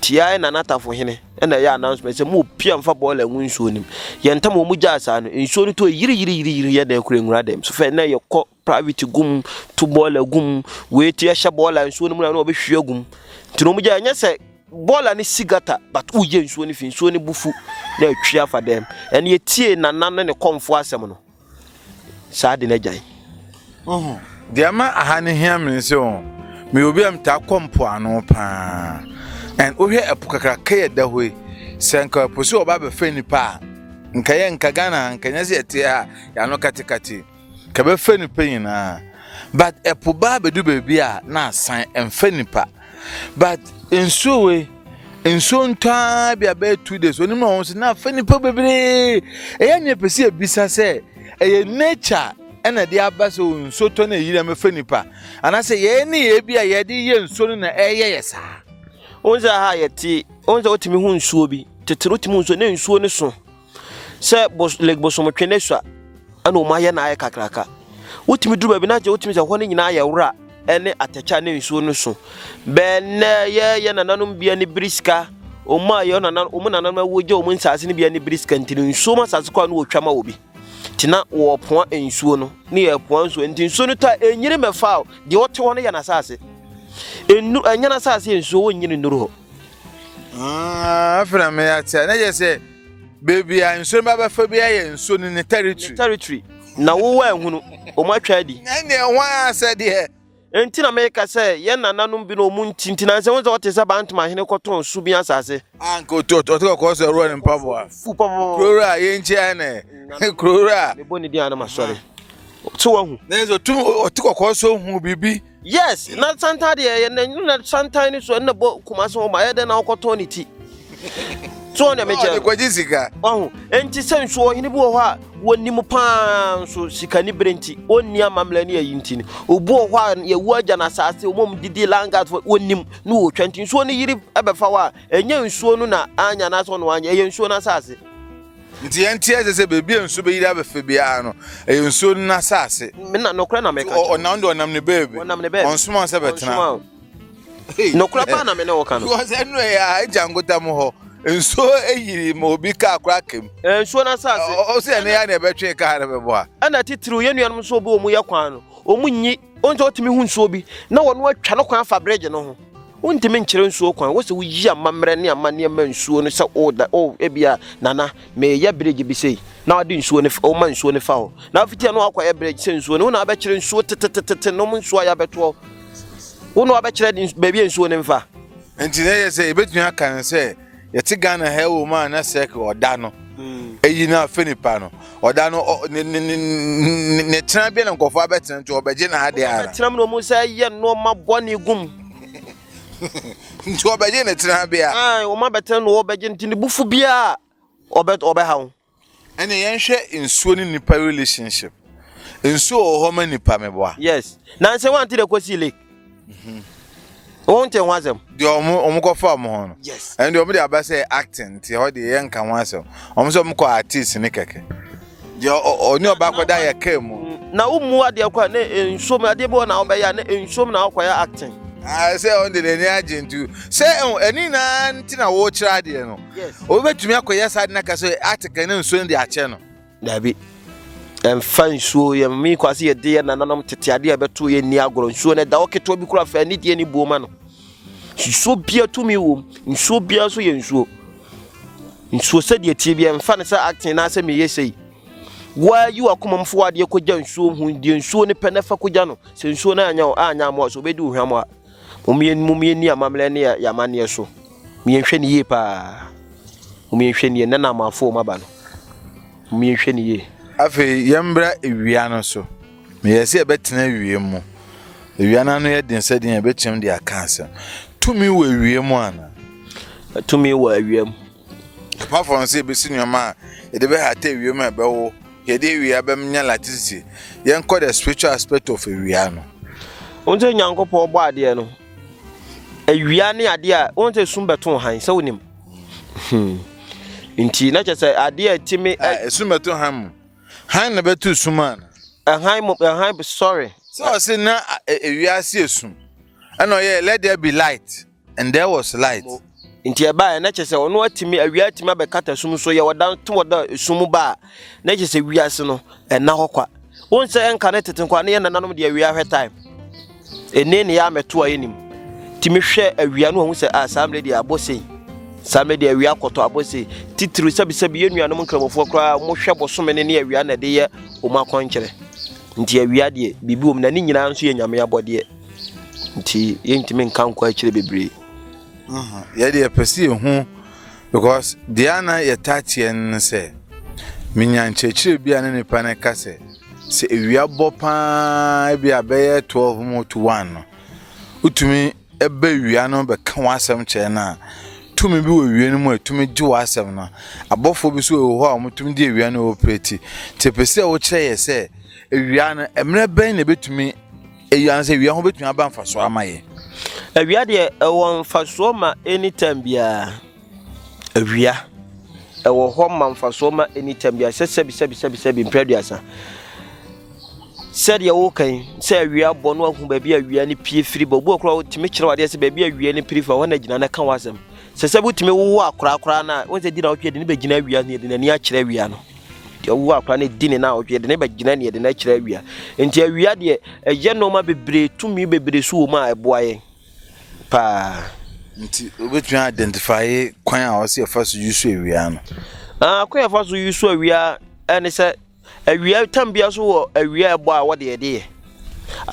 tiaɛ na n'atafo hene ɛna ɛyɛ announcement sɛ mo pia mfa bɔɔla ngu nsuo no mu yɛn tam wɔn gyaa saa no nsuo no tɔɔ yiri yiri yiri yiri yɛ na ɛkura nwura dɛm so fɛ na yɛkɔ private gu mu to boiler gu mu wei ti ɛhyɛ boiler nsuo no mu na na ɔbɛhwie agu mu nti na ɔmogya ɛnyɛ sɛ boiler no si gata but woyɛ nsuo no fi nsuo no bufu na atwi afa dɛm ɛne yɛtie nana ne ne kɔmfo asɛm no saa de no agyae deɛ ma aha no hia me sɛ o meyɛ obi a metaa kɔ mpoano paa and wohwɛ ɛpo kakraka yɛ da hɔ yi sɛ nka ɛpo so ɔba bɛfɛ nipa a nka yɛ nka ghana nka nyɛ sɛ yɛte a yɛano katekate Nka bɛfɛ nipa nyinaa but ɛpo baa bɛdu baabi a na asan ɛmfɛ nipa but nsuo wei nsuo ntɔa bi abɛyɛ two days onim na wɔn so na afɛ nipa bebree ɛyɛ nea pɛ sɛ ebisa sɛ ɛyɛ nature ɛna de aba sɛ nsuo tɔ na eyiri ɛmɛfɛ nipa anaasɛ yɛn ne yɛ bi a yɛde yɛ nsuo no na ɛyɛ yɛ saa. Wɔn sɛ ha yɛte wɔn sɛ wɔtumi ho nsuo bi tete wɔtumi ho nsuo ne nsuo ne so sɛ bos like bosomtwe ne sua ɛna wɔn ayɛ na ayɛ kakraka wotumi duru baabi na agye wotumi sɛ hɔ no nyinaa yɛ wura ɛne atɛkyɛ ne nsuo no so bɛɛ nnɛ yɛyɛ nananom bia ne biri sika wɔn a yɛ nana wɔn nananom awo gye wɔn nsaase no bia ne biri sika nti no nsuo mu asaase kɔ a no wɔtwa ma wɔ bi te na wɔpoa nsuo no ne yɛ poa nsuo nti nsuo no ta enyini mɛfa deɛ ɔte hɔ no yɛ n'asaase enu ɛnyɛ n'asaase yɛ nsuo wɔnyini nnuru hɔ. Ah, afei na meyɛ ate a na yɛ sɛ baabi a nsuo no bɛbɛfa bi ayɛ nsuo no ne territory. territory na wowɔ ahunu wɔn atwa adi. na ɛne ɛho asɛ deɛ. nti na meka sɛ yɛn nananom bi na wɔn nti nti na nsɛ wɔn sɛ wɔte sɛ bantoma hene kɔtɔn su bi asase. a nka ɔte kɔkɔɔ sɛ ɔrɔ ne mpaboa. fu pɔpɔpɔ. kurowura yɛn nkyɛn nɛ kurowura. mebɔ ne din a na masɔre. so wahu. na yɛ sɛ ɔte kɔkɔɔ sɛ ɔhu biribi. Yes na santan deɛ yɛ na na santan ne so ɛna bɔ kumase hɔ ma ɛyɛ dɛ na ɔkɔtɔn ne ti so ɔne me kyɛ ɔkɔgye sika ɔho nti sɛ nso ɔhene bi wɔ hɔ a wɔnim paa nso sika ne bere nti ɔnni amammerɛ ne ayi nti no obi wɔ hɔ a yɛwu agya no asase ɔmom didi langat wɔnim ne wɔtwa nti nsuo no yiri ɛbɛfa hɔ a ɛnyɛ nsuo no na anya no asɛ ɔno anya ɛyɛ nsuo no asase Nti ɛnteɛ ɛsɛ sɛ baabi a nsuo bɛyiri abɛfɛ biara no, ɛyɛ nsuo no n'asase. Me na nokorɛ na meka kyerɛ. Ɔnam deɛ ɔnam ne baabi. Ɔnam ne baabi. Ɔnsoma sɛ bɛtena. Ɔnsoma o. Nokorɛ paa na me ne wo ka no. Because ɛnu ɛyɛ a agya nkotam hɔ. Nsuo ɛyiri ma obi kaa kora akam. Ɛyɛ nsuo n'asase. Ɔsɛ ɛno yɛ a na ɛbɛtwe kaa no bɛboa. Ɛna titiriw yɛn nuanom nso obi wɔn yɛ kwan no, wɔn nyi. Wohu sɛ wotumi hu nsuo bi na wɔno atwa no kwan afa bridge no ho. Wontumi nkyerɛ nsuo kwan, wɔ sɛ woyi amammerɛ ne amanneɛ ma nsuo no sɛ o da o ebia nana meyɛ bridge bi sei na ɔde nsuo no fa ɔma nsuo no fa hɔ na afiti ɛno akɔyɛ bridge sɛ nsuo no wo na abɛkyerɛ nsuo tetetetete nom nsuo a yɛabɛtoɔ wo na abɛkyerɛ baabi a nsuo no mfa. Nti na ɛyɛ sɛ yɛbɛtumi aka no sɛ yɛte ghana ha wɔ mu a na sɛ ɔda no hmm. eyi na afɛ nipa no ɔda no ne ne ne ne tena bi na nkɔfo abɛtena nti ɔbɛgye na ade ara ɔbɛtena mu na ɔmo sɛ yɛ nneɛma bɔ ne gum nti ɔbɛgye ne tena bi a ɔmo abɛtena na ɔbɛgye nti ne bufu bi a ɔbɛ ɔbɛha ho. Ɛne yɛnhwɛ nsuo ne nipa relationship nsuo wɔ hɔ ma nipa meboa. yes nanse wante dɛ kɔsii lake mhm. wonte ho asɛm deɛ ɔmo ɔmo kɔfa ɔmo ho no yes ɛnde ɔmo de aba sɛ acting nti hɔ deɛ yɛnka ho asɛm ɔmo sɛ ɔmo kɔ artist ne kɛkɛ deɛ ɔne ɔba akɔda yɛ kaa mu na womu adeɛ kɔ a ne nsuom adeɛ bi wɔ na wobɛyɛ a ne nsuom na wokɔyɛ acting ah, sɛ ɔnde n'ani agye nti sɛ ɛni nyinaa nti na wokyerɛ adeɛ no Wobɛtumi akɔyɛ saa de no aka sɛ ateke ne nsuo no de akyɛ no? Daabi. Ɛmfa nsuo yɛ mmii kɔ ase yɛde yɛ nananom tete adeɛ a ɛbɛto yɛ nni agorɔ. Nsuo no ɛda hɔ ketewa bi kora fɛ ne deɛ ne buo ma no. Nsuo bia tumi wom. Nsuo bia nso yɛ nsuo. Nsuo sɛdeɛ tie bi ɛmfa no sɛ acting na sɛ meyɛ sei. Waa yi wakoma mu fo adeɛ kɔgya nsuo ho deɛ nsuo no pɛ na fa kɔgya no. Sɛ nsuo no anya anya amoa so obɛdi ohwam a. Mom yɛn mom yɛn ni amammerɛ ne yɛ amanneɛ so. Mom yɛn hwɛ ne yie paa. Mom yɛn hwɛ ne yie nna na amanfo wɔn aba no. Mom yɛn hwɛ ne yie. Afei yɛn mbra ewia no so. Me yɛ sɛ yɛbɛtena ewiem mu. Ewia no ano yɛ den sɛ deɛ yɛbɛtwam de aka asɛm. Tumi wɔ ewiem ana? Tumi wɔ ewiem. Ɛpã fam sɛ yebesi nneɛma a yɛde bɛhata ewiem a ɛbɛwo yɛde awia bɛm nya latitude. Yɛnkɔ the spiritual aspect of awia no. Wonim sɛ Nyankopɔn bɔ adeɛ no, awia ne adeɛ a wonim sɛ sum bɛto han sɛ wonim. Hmm. Nti na kyɛ sɛ adeɛ a ɛtumi. Esum bɛto han mu. Han na bɛto sum ana? Ɛhan mu ɛhan sorry. Sɛ ɔse na ewia ase esum ɛna ɔyɛ let there be light. And there was light. Nti ɛbaeɛ na kyerɛ sɛ ɔno atumi awia atumi abɛkata sum so yɛ ɔda to ɔda sum mu ba a na kyerɛ sɛ wiase no ɛna hɔ kwa wɔn sɛ ɛnka ne tete nkwa ne yɛn nananom deɛ awia hwɛ time ɛne ne yɛ amɛto a yɛnim ti mehwɛ awia no ɔhu sɛ a ah, saa mmerɛ deɛ abɔ sei saa mmerɛ deɛ awia akɔtɔ abɔ sei titiri sɛbisɛbi yɛn nuanom nkramofoɔ koraa wɔhwɛ bosome ne ne awia na ɛde yɛ wɔn akɔnkyerɛ nti awia deɛ biribi wɔm na ne nyinaa nso yɛ nyame abɔdeɛ nti yɛntumi nka nkɔ akyire bebree yɛde yɛpɛ sɛ yɛhu because deɛ a na yɛtaa teɛ no sɛ menya nkyerɛkyerɛ bi a ne nipa no ka sɛ sɛ ewia bɔ paa bi a bɛyɛ 12 mu to 1 no wotumi ɛbɛ ewia no bɛka w'asɛm kyerɛ no a tumi bi wɔ ewia no mu a ɛtumi gye w'asɛm no abɔfoɔ bi so wɔ hɔ a wɔtumi de ewia no operate nti pɛ sɛ wokyerɛ yɛ sɛ ewia no mmerɛ bɛn na ɛbɛtumi Eyi ansa awia ho betumi aba mfaso ama yɛn. Awia deɛ ɛwɔ mfasoɔ ma anytime biara. Awia ɛwɔ hɔ ma mfasoɔ ma anytime biara sɛ sɛbi sɛbi sɛbi sɛbi mpɛ aduasa. Sɛdeɛ woka yi sɛ awia bɔ no ahu baabi awia no pie firi bɔ obi ɔkora wotumi kyerɛ wadeɛ sɛ baabi awia no piri fa hɔ na gyina na ka wasɛm. Sɛ sɛ wotumi wowo akorakora no a wɔn sɛ di na wotwe de ne bɛgyina awia ne de n'ani akyerɛ awia no. Deɛ ɔwo akora no di ne na ɔtwe de ne bɛgyina neɛ de no akyerɛ awia nti awia deɛ ɛyɛ nneɛma bebree tumi bebree so wɔ mu a ɛboa yɛn paa. nti wobɛtumi identify kwan a ɔsɛ yɛfa so yi so awia no. Ah, kwan yɛfa so yi so awia ɛne sɛ awia tam bia so wɔ awia ɛbɔ a wɔde yɛde yɛ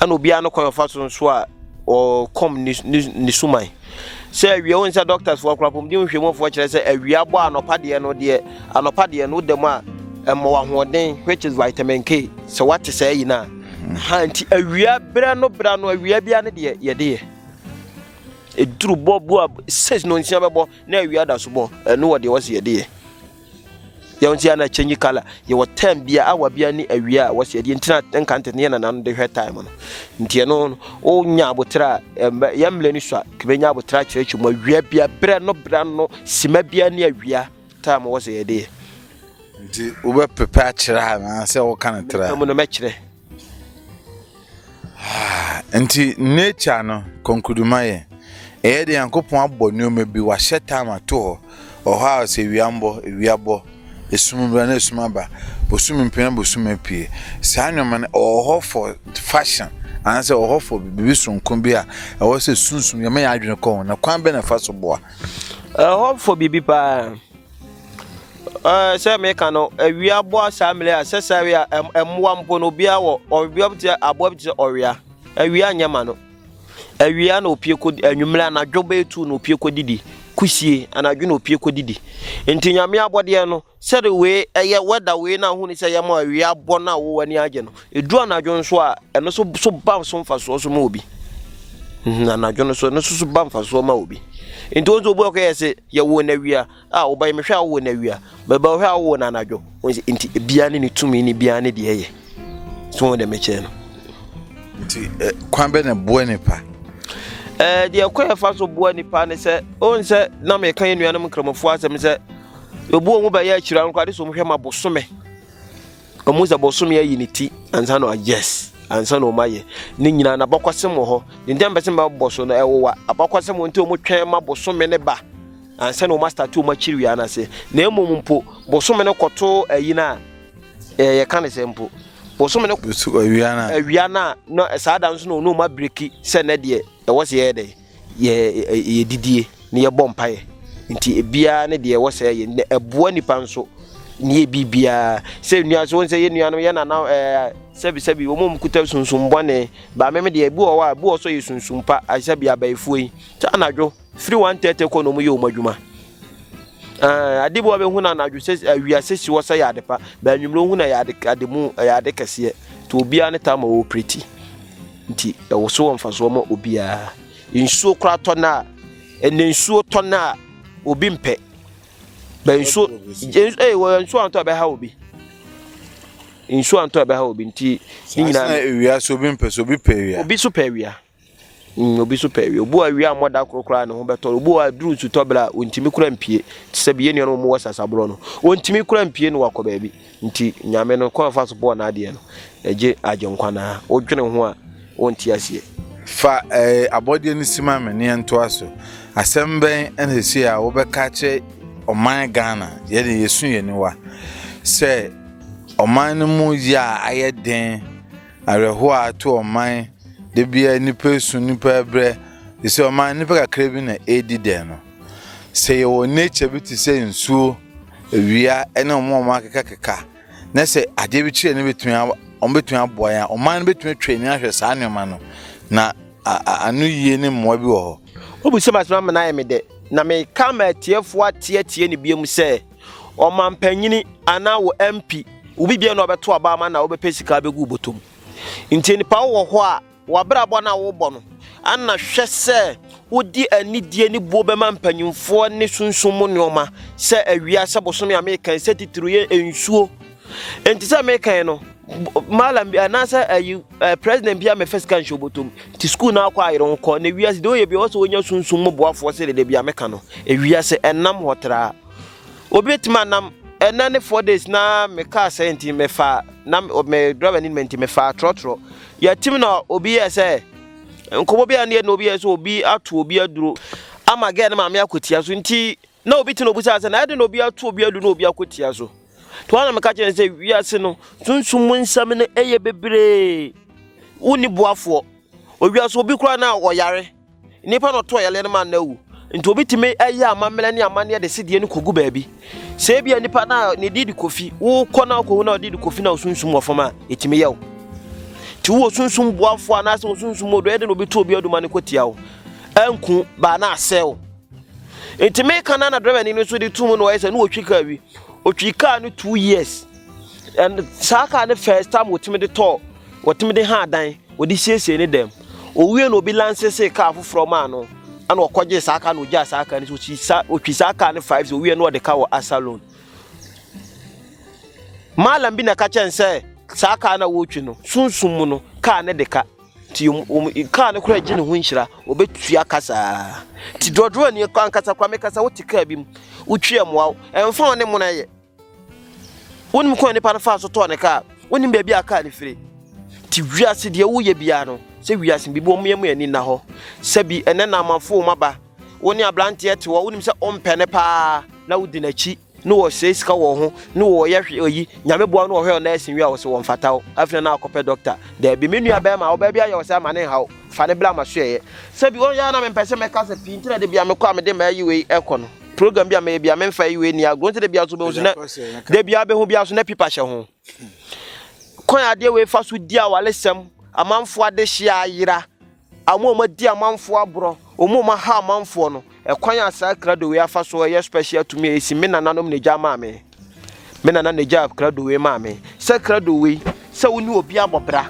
Ɛna obiara no kwan ɔfa so nso a ɔkɔm ne ne ne suman sɛ awia wɔn sɛ doctors fo akora pɔmuden nhwɛmufoɔ kyerɛ sɛ awia bɔ anɔpa deɛ no deɛ anɔpa deɛ no dɛm a ɛmɔ ahoɔden which is vitamin K sɛ wate sɛ ayi na ha nti awia berɛ no berɛ no awia bia no deɛ yɛde yɛ ɛduru bɔ bu a six no nsia bɛbɔ na awia da so bɔ ɛno wɔ deɛ wɔsi yɛde yɛ deɛ wɔn ti yɛ na change colour yɛwɔ time bi a awa bi ne awia a wɔsi ɛdeɛ ntina nka ntɛtɛ yɛ nana no de hwɛ time no nti ɛno wonya abotire a yɛn mmerɛ ni so a kebe nya abotire akyerɛkyerɛ mu awia bi a berɛ no berɛ no sima bi ne awia time wɔsi yɛ deɛ. nti wobɛpepɛ akyerɛ a anaasɛ woka no tra mu no mɛkyerɛ Nti nature no kɔnkuduma yɛ ɛyɛ de nyankopɔn abɔ nneɛma bi wahyɛ time ato hɔ ɔhɔ a sɛ wia mbɔ wia bɔ esum bra na esum aba bosom mpie na bosom apue saa nneɛma no ɛwɔ hɔ for fashion anaasɛ ɛwɔ hɔ for biribi sonko bi a ɛwɔ sɛ sunsun yɛma yɛn adwene kɔ ho na kwan bɛ na ɛfa so boa ɛwɔ hɔ for biribi paa. Ɛɛ sɛ meka no awia aboa saa mmiri a sɛ saa awia mmoa mpo no obiara wɔ ɔbea bi te aboa bi te sɛ ɔwea awia nyɛ ma no awia na opie kɔ anwummerɛ anadwo bɛyɛ tu na opie kɔ didi kusie anadwo na opie kɔ didi nti nyame abɔdeɛ no sɛde wei ɛyɛ wɛda wei na ahuni sɛ yɛma awia abɔ no a wɔwɔ ani agye no Ɛduru anadwo nso a, ɛno nso so ba so mfasoɔ so ma obi. Mhm, anadwo no so ɛno nso so ba mfasoɔ ma obi. Nti wɔn nso obi ɔkɔ yɛ se yɛwɔ no awia a ɔba yi mehwɛ a wɔwɔ no awia bɛba ɔhwɛ a wɔwɔ no anadwo. Wɔn sɛ nti ebiara ne ne tumi ne biara ne deɛ yɛ. So wɔn deɛ mekyɛn no. Nti eh, kwan bɛ na boa nipa. Ɛɛ eh, deɛ kwan ɛfa so boa nipa ne sɛ wɔn sɛ na meka yɛ nuanom nkramofoɔ asɛm sɛ obu wɔn bɛyɛ akyire anko ade so wɔn hwɛ ma bosome. Ɔmo sɛ bosome ayi ne ti ansa na yes ansa na ɔmo ayɛ ne nyinaa na abakɔsɛm wɔ hɔ de nti mpɛ sɛ mɛbɔ so no ɛwowa abakɔsɛm wɔ nti ɔmo twɛn ma bosome ne ba ansa na ɔmo astate ɔmo akyiri wia no ase na emom mpo bosome no kɔto ayi no a ɛɛ yɛka ne sɛ mpo bosome no awia no a na saa da nso na ɔno ɔmo abiriki sɛ nɛ deɛ ɛwɔ sɛ yɛyɛ dɛ Yɛ yɛ didie ne yɛ bɔ mpaeɛ nti ebiara ne deɛ ɛwɔ sɛ yɛ ne ɛboa nipa nso ne yɛ biribiara sɛ nua so wɔn sɛ yɛ nua no yɛ nana ɛɛ sɛbi sɛbi wɔn mu kuta sunsun bɔne ba mɛmɛ deɛ ebi wɔ hɔ a ebi wɔ so yɛ sunsun pa asɛbi abayifoɔ yi sɛ anadwo firi wɔn tɛɛtɛ kɔ na wɔn yɛ wɔn adwuma. Eh, ade bi wɔbɛhu no anadwo sɛ eh, wiase si hɔ sɛ yɛ ade pa bɛnwummerɛ hu no yɛ ade ade mu yɛ ade kɛseɛ nti obiara ne taa ma wɔɔpireti Nti ɛwɔ so wɔ mfasoɔ ma obiara. Nsuo koraa tɔ no a, ɛnɛ nsuo tɔ no a obi mpɛ. Bɛ nsuo, ee wɔ nsuo antɔ a ɛbɛha obi. Nsuo antɔ a ɛbɛha obi nti ne nyinaa. Saa ewia so obi mpɛ so obi pɛ ewia. Obi so pɛ ewia. Mm, obi so pɛ ewia. Obi wɔ ewia mmɔ da koro koraa ne ho bɛtɔ. Obi wɔ aduru nsutɔ bere a ontimi kura mpie. Te sɛ bi yɛ nnuanom wɔn wɔ sasaborɔ no. Ontimi kura mpie no wakɔ baabi. Nti Nyame no, kwan a ɔfa so bɔɔ n'adeɛ no, egye Agyenkwa no ara. Wodwene ho a, wonte aseɛ. Fa abɔdeɛ no si ma me ne yɛntoa so. Asɛm bɛn na ɛsei a wobɛka akyerɛ ɔman Ghana? Yɛde yɛsu yɛn aniwa sɛ ɔman no mu yɛ a ayɛ den, awerɛhoɔ a ato ɔman, da biara nnipa esu, nnipa brɛ, ɛsɛ ɔman nnipa kakra bi na ɛredi dɛn no. Sɛ yɛwɔ nature bi te sɛ nsuo, awia ne wɔn a wɔn akekakeka na sɛ adeɛ bi kyerɛ no bɛtumi wɔn bɛtumi aboa yɛn a, ɔman no bɛtumi atwa ani ahwɛ saa nneɛma no na ano yie ne mmoa bi wɔ hɔ. Wobisa ma sɛ ama no ayɛ me dɛ na meka ma atiefoɔ ateatie no biom sɛ ɔmampanyini anaa wɔ MP wo bibia na ɔbɛto aba ama na wobɛpɛ sika bɛgu bɔtɔm nti nipa wɔ hɔ a W'abrabɔ no a wobɔ no ana? Hwɛ sɛ wode anidie ne buo bɛma mpanimfoɔ ne sunsum mu nneɛma sɛ awia, sɛ bosome a mekan, sɛ titiriw yɛ nsuo. Nti sɛ mekan no, malam bi anaasɛ ayi president bi a mɛfa sika nhyɛ obotom nti sukuu no akɔ ayere ho kɔ na wiase deɛ ɔyɛ bi ɔwɔ sɛ ɔnya sunsum mu boafoɔ sɛ dede bi a meka no wiase ɛnam hɔ traa. Obi betumi anam ɛnɛ ne four days na me kaa sɛ nti mefa na me driver ni nti mefa trɔtrɔ yɛtim na obi yɛ sɛ nkɔmɔ bi a ne yɛ na obi yɛ sɛ obi ato obi aduro ama gɛɛ ne maame akɔtia so nti na obi ti na obi sɛ na ɛde na obi ato obi aduro na obi akɔtia so to ana meka kyerɛ sɛ wiase no sunsum mu nsɛm no ɛyɛ bebree wonni boafoɔ owia so obi koraa na ɔyare Nnipa na ɔto ayaleɛ no ma no awu. Nti obi tumi ɛyɛ amammerɛ ne amanneɛ de sedeɛ no kɔgu baabi. Sɛ ebi a nipa na ne di de kofi, wokɔ na wokɔhu na ɔde de kofi na osunsum wɔ fam a, ɛtumi yɛ wo. Nti wowɔ sunsum boafoɔ anaasɛ wo sunsum mu ɔdɔ ɛde na obi to obi aduma no kɔtia wo. Anku baa na asɛe wo. Nti meka na na drɛmani no nso de tu mu na ɔyɛ sɛ ne wɔtwi kaa wi. Ɔtwi kaa no two years. And saa car no first time wɔtumi de tɔɔ wɔtumi de haa dan wɔde siesie ne dɛm owie na obi lansese car foforɔ maa no ɛna ɔkɔgye saa car no ogyaa saa car no so ɔtwi saa ɔtwi saa car no five so owie na ɔde ka wɔ asa loan maalam bi na ɛka kyɛn sɛ saa car no a wɔretwi no sunsun mu no car no de ka ti wɔn car no kora gye ne ho nhyira ɔbɛtua ka saa ti dɔdɔɔ ni ankasa kora mekasa wote car bi mu wotwi ɛmoa ɛnfa wɔn ne mo na yɛ. Wonim kwan nipa no faa so tɔɔ ne kaa, wonim baabi a kaa no firi. Ti wiase deɛ woyɛ biara no, sɛ wiase biribi wɔn yɛn mu ani nna hɔ. Sɛbi ɛnɛ namafo wɔn aba, wo ne abranteɛ te hɔ, wonim sɛ ɔmpɛ ne paa, na wodi n'akyi, ne wɔsɛe sika wɔ ho, ne wɔyɛ hwe oyi, nyame boa no wɔhwɛ ɔna ɛsen wie a wɔsɛ wɔn fata wo, afei na akɔpɛ doctor. Daabi, me nua bɛrima, ɔbaa bi ayɛ wo saa ma ne nhaw, fa ne bla ma so ɛyɛ. Sɛbi wɔn yɛ a na mempɛ sɛ mɛkasa pii, nti na de bia mekɔ a mede m'ayi wei ɛkɔ no. program bi a mɛyɛ bi a memfa yi wei ni agorɔ nti da biara so bɛhu so na da biara bɛhu biara so na pipa hyɛ ho kwan adeɛ wei fa so di awalesɛm amanfoɔ adehyeɛ ayera ɔmo ɔmo adi amanfoɔ aborɔ ɔmo ɔmo aha amanfoɔ no ɛkwan a saa krado wei afa so ɛyɛ special tumi a ɛsi me nananom na agya maa me Me nana na egyaa krado wei maa me. Sɛ krado wei, sɛ wo ne obi abɔ bra,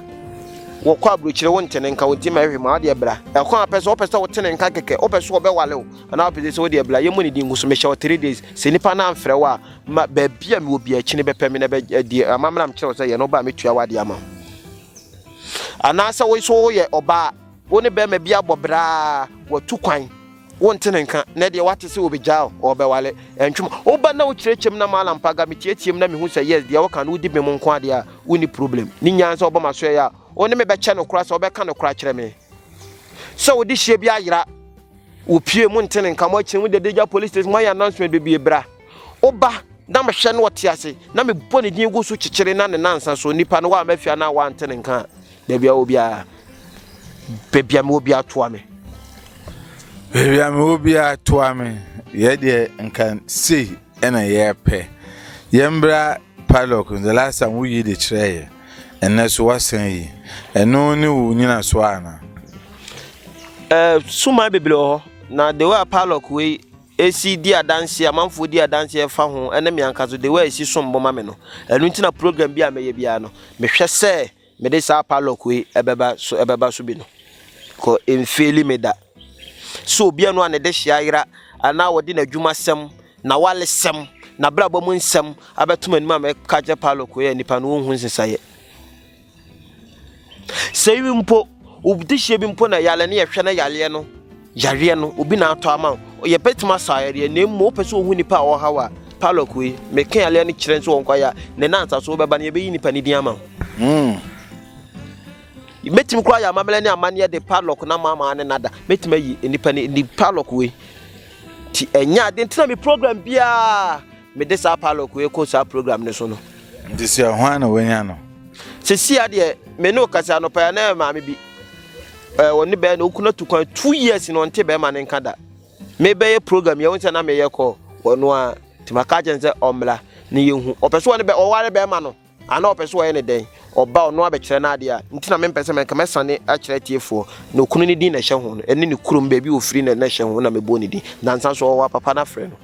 wɔkɔ aburokyire wo ntene nka wo nti ma ɛhwɛ mu a ɔde bra. Ɛkwan a pɛ sɛ wɔpɛ sɛ wotene nka kɛkɛ, wopɛ sɛ wɔbɛwale wo anaa wopɛ sɛ sɛ wode bra. Yɛmmɔ ne din ngu so, mehyɛ wo three days. Sɛ nnipa no amfrɛ wo a, ma baabi a mewɔ biara akyi no bɛpɛ me na ɛbɛdi amammerɛ a mekyerɛ wo sɛ yɛ no, woba a mɛtua w'adeɛ ama wo. Anaasɛ wo nso woyɛ ɔbaa Wo ne barima bi abɔ bra a, watu kwan. Wonte ne nka. Nnɛ deɛ woate sɛ ɔbɛgyaa wo, ɔrebɛware. Ɛntwe mu. Woba na wokyerɛkyerɛ mu na maala mpaga, meteatea mu na mehu sɛ yes, deɛ woka no wodi bem nko ara deɛ a, wonni problem. Ne nyinaa ne sɛ wobɔ m'asoɛeɛ a, wo ne me bɛkyɛ no koraa sɛ wobɛka nokorɛ akyerɛ me. Sɛ wode hyeɛ bi ayera wo pie, monte ne nka. Moakyini, mode adagya police station, moayɛ announcement bebree, bra. Woba na mehwɛ no ɔte ase na mebɔ ne din gu so kyekyere na ne nansa so nipa no wa mafia na wa ante ne nka baabi a obi a baabi a obi atoa me baabi a obi atoa me yɛ deɛ nka sei ɛna yɛpɛ yɛn bra padlock the last time woyi de kyerɛ yɛ ɛnɛ so wasan yi ɛno ne wo nyina so ana ɛɛ eh, suma bebree wɔ hɔ na the way padlock wei esi di adanse, amanfoɔ di adanse ɛfa ho, ɛne me ankasa so, the way a esi som bo ma me no. Ɛno nti na program bi a mɛyɛ biara no, mehwɛ sɛ mede saa padlock wei ɛbɛba so, ɛbɛba so bi no. Kɔ mfeeli me da. So obi ano a ne de hyia yera, anaa wɔde n'adwuma sɛm, na wale sɛm, na brabɔ mu nsɛm abɛto m'anim a mɛka kyerɛ padlock wei a nipa no ɔnhu nsesaeɛ. Sɛ iwi mpo, obi dehyɛ bi mpo na yare no yɛhwɛ na yareɛ no yareɛ no obi na atɔ ama wo yɛbɛtumi asa yareɛ na mmom wopɛ sɛ wohu nipa a ɔhaw a palɔk wei meka yareɛ no kyerɛ sɛ wɔnkɔ yɛ a ne nansa so wobɛba no yɛbɛyi nipa no din ama wo mm. mɛtumi koraa yɛ amammerɛ ne amanneɛ de padlock na maamaa ne nada mɛtumi ayi nnipa ne ni padlock wei nti ɛnyɛ ade nti na me program biara Mede saa pilot wei kɔ saa program no so no. Ntesua hwan na wanya no? Sesia deɛ me ne ɔkasi anɔpa ya na maame bi ɛɛ wɔn ne bɛyɛ na okuna tu kwan two years na ɔnte bɛrima ne nka da mebɛyɛ program yɛ wɔn sɛ na meyɛ kɔ wɔn a tìmaka kyɛn sɛ ɔmmla ne yɛ hu ɔpɛ so wɔn ne bɛ ɔware bɛrima no. Ana ɔpɛ sɛ ɔyɛ no dɛn? Ɔba a, ɔno ara bɛkyerɛ no adeɛ a nti na mempɛ sɛ mɛka. Mɛsane akyerɛ atiefoɔ no okunu no din na ɛhyɛ ho no, ɛne ne kurom, baabi a ɔfiri no na ɛhyɛ ho na mɛbɔ ne din. Nnansa nso ɔwɔ apapa no afrɛ no.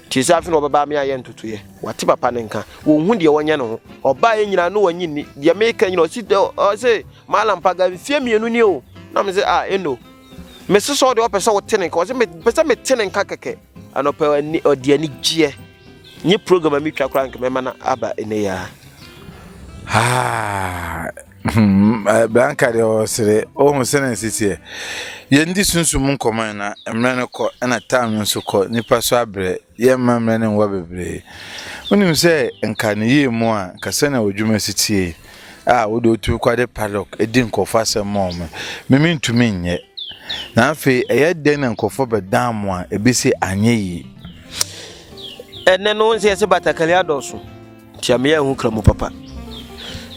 Nti sɛ afei na ɔbɛba a me ayɛ ntotoeɛ. Wate papa no nka. Ɔnhu deɛ ɔnyɛ ne ho. Ɔba a yɛ nyinaa na ɔnye nni. Deɛ meka nyinaa ɔse dɛ ɔse Malam Paga mfeɛ mmienu nie o. Na me sɛ ah ɛno. Mese sɛ ɔde ɔpɛ sɛ wote ne nka. Ɔse mepɛ sɛ mete ne nka kɛkɛ. Anɔpa ɔde anigyeɛ Nye program a metwa koraa nka mɛma no aba nnɛ yi ara. Ah, hmm, eh, Blanca deɛ ɔsere ɔhu sɛ na nsisiɛ yɛndi sunsum nkɔmmɔ na mmerɛ no kɔ ɛna tam no nso kɔ nipa so abrɛ yɛmma mmerɛ no nwa bebree wonim sɛ nka ne yie mu a nka sɛnea ɔdwuma si tie a wode otu kɔ de padlock di nkurɔfo asɛm ma wɔn me mentumi nyɛ na afei ɛyɛ dɛn na nkurɔfo bɛdan mo a ebi se anyɛ yie ɛnɛ no nsɛ yɛsɛ batakari adɔso nti ameyɛ ho kra mu papa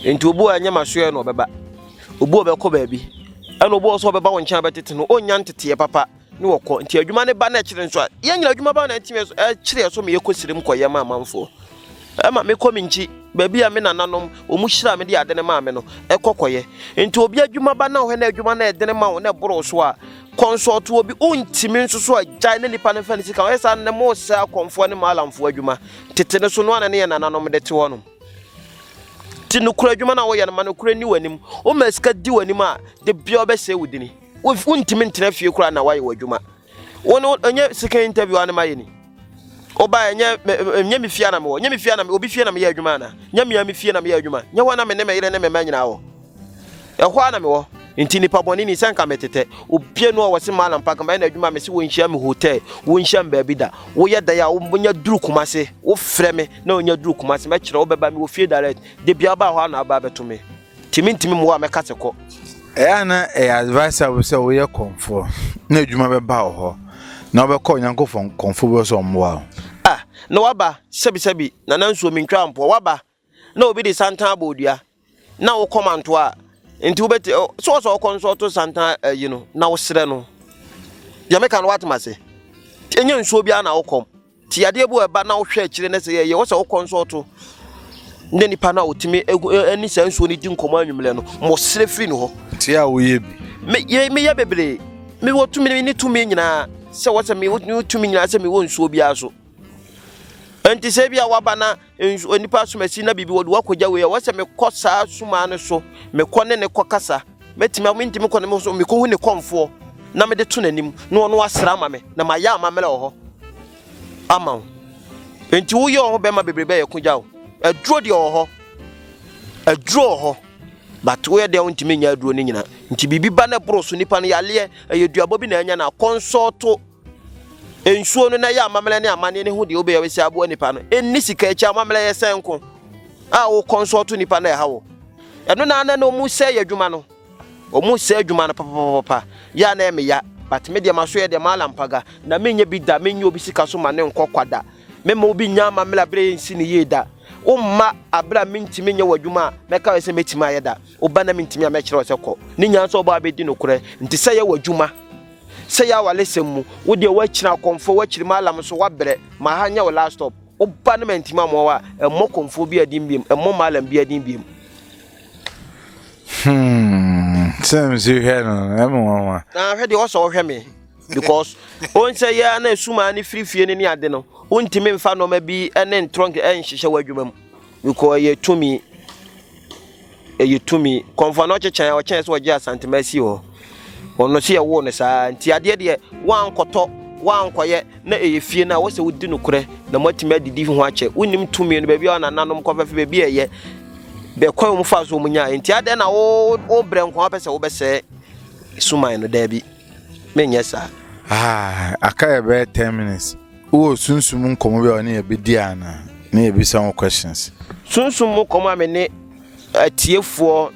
nti obu a ɛnyɛ masoɛ na ɔbɛba obu a ɔbɛkɔ baabi ɛna obu a ɔsɛ ɔbɛba wo nkyɛn abɛtete no ɔnya nteteɛ papa ne wɔkɔ nti adwuma ne ba na ɛkyerɛ nso a yɛn nyina adwuma ba na ɛtumi ɛkyerɛ so ma yɛkɔ sire mu kɔ yɛn amanfoɔ ɛma mekɔ me nkyi baabi a me nananom wɔn hyira me de ade ne maa me no ɛkɔ kɔyɛ nti obi adwuma ba na ɔhɛ na adwuma na ɛdene ma wo na ɛboro so a consult obi wontumi nso so a gyae na nipa no mfa ne sika ɔyɛ saa ne mo sɛ akɔnfoɔ ne maalamfoɔ adwuma tete no so no ana ne yɛ nananom de te hɔ nom ti no kura adwuma na wɔyɛ no ma no kura ni w'anim wo ma sika di w'anim a de bia ɔbɛsɛ wo dini wontumi ntena fie koraa na woayɛ w'adwuma wo no ɛnyɛ second interview anema yɛ ni woba ɛnyɛ ɛnyɛ me fie na mewɔ nyɛ me fie na obi fie na meyɛ adwuma ana nyɛ mea me fie na meyɛ adwuma nyɛ hɔ na me ne me yere ne me mma nyinaa wɔ ɛhɔ a na mewɔ nti nipa bɔne ni sɛ nka metetɛ obie no a wɔse malam pa kama ɛna adwuma me se wɔnhyia me hotel wɔnhyia me baabi da woyɛ dan a wonya duru kuma se wofrɛ me na wonya duru kuma se mɛkyerɛ wobɛba me wɔ fie direct da bia wobaa hɔ a na wobaa bɛto me Timi ntimi mmoa a mɛka sɛ kɔ. Ɛyɛ a na ɛyɛ advisable sɛ woyɛ kɔmfoɔ na adwuma bɛba wo hɔ na wobɛkɔ Onyankopɔn kɔmfoɔ bi hɔ sɛ ɔmmoa wo. Ah, na waba, sɛbisɛbi, Nana Nsuo mentwaa mpoa, waba na obi de santan abɔ wo dua na wo kɔma ntoa a, nti wobɛti, ɛ, sɛ ɔsɛ ɔkɔ nso ɔto santan ayi no na wosrɛ no. Deɛ meka no woate m'ase? Ɛnyɛ nsuo biara na wo kɔm. Tiadeɛ bi a ɛba na wohwɛ akyire na sɛ yɛyɛ wɔ sɛ wokɔnsɔɔto ne nipa no a ɔtumi ɛne saa nsuo no di nkɔmmɔ anwummerɛ no ma ɔsrɛ firi ne hɔ. Te a woyɛ bi. Meyɛ meyɛ bebree. Mewɔ tumi ne tumi nyinaa sɛ wɔ sɛ mewɔ tumi nyinaa sɛ mewɔ nsuo biara so. Nti sɛ bi a waba na nso onipa som asi na biribi wɔde wakɔgya wei a wɔsɛ mekɔ saa sumaa no so mekɔ ne ne kɔ kasa mɛtumi a mentumi kɔ ne me so mekɔhu ne kɔmfoɔ na mede to n'anim na ɔno asra ama me na mayɛ amammerɛ wɔ hɔ ama wo nti woyɛ wɔ ho bɛma bebree bɛyɛ ko gya wo aduro deɛ wɔ hɔ aduro wɔ hɔ but woyɛ deɛ wontumi nyɛ aduro no nyina nti biribi ba no ɛboro so nipa no yaleɛ ɛyɛ duabɔ bi na anya no akɔnsɔɔto Nsuo no na ɛyɛ amammerɛ ne amanneɛ ne ho deɛ wobɛyɛ wobɛsi aboa nipa no. Ɛnni sika akyi amammerɛ yɛ sɛn ko a wokɔ nso ɔto nipa na ɛha wo. Ɛno na na na ɔmu sɛ yɛ adwuma no. Ɔmu sɛ adwuma no papapapa. Yɛ a na ɛme ya. But me deɛ ma so yɛ deɛ ma lampaga. Na me nyɛ bi da. Me nyɛ obi sika so ma ne nkɔ kwa da. Me ma obi nya amammerɛ abere nsi ne yie da. Wo mma abere a mentimi nyɛ wɔ adwuma a mɛka wɔ sɛ mɛtimi ayɛ da. Wo ba na mentimi a mɛkyerɛ wɔ sɛ kɔ. Ne nyinaa sɛ ɔbɔ abɛdi nokorɛ. Nti sɛ yɛ wɔ adwuma. Sɛ yɛ awaresɛm mu, wo deɛ woakyini akɔmfoɔ, woakyiri Mallam nso woabrɛ, ma ha nyɛ wo last stop. Wo ba no mantimi amoa wo a, mmɔ kɔmfoɔ biara din biom, mmɔ Mallam biara din biom. Hmm, sɛ msi hwɛ no, ɛmu nwanwa. Na hwɛ deɛ ɔsɛ ɔhwɛ me because wɔn sɛ yɛ na esuma ne firi fie ne ne ade no wontumi nfa nneɛma bi ne ntorɔnk nhyehyɛ wɔ adwuma mu because ɛyɛ tumi. Ɛyɛ tumi. Kɔmfoa no ɔkyekyɛn a ɔkyɛn sɛ ɔgye Asantema si hɔ. Ɔno so yɛwoo no saa. Nti adeɛ deɛ woankɔtɔ, woankɔyɛ na ɛyɛ fie no a wɔ sɛ wodi nokorɛ na moatumi adidi ho akyɛ. Wonim tumi no baabi a ɔnananom kɔ fɛfɛ baabi a ɛyɛ. Bɛ kwan wɔn faa so wɔn nyaa. Nti adɛn na wo wo brɛ nkoa wopɛ sɛ wobɛsɛɛ suman no daabi. menyɛ saa. Ah, aka yɛ bɛyɛ ten minutes. Wowɔ sunsum nkɔmɔ bi a ɔne yɛ bɛdi ana ne yɛ bisa ho questions. Sunsum mu nkɔmɔ a me ne atiefoɔ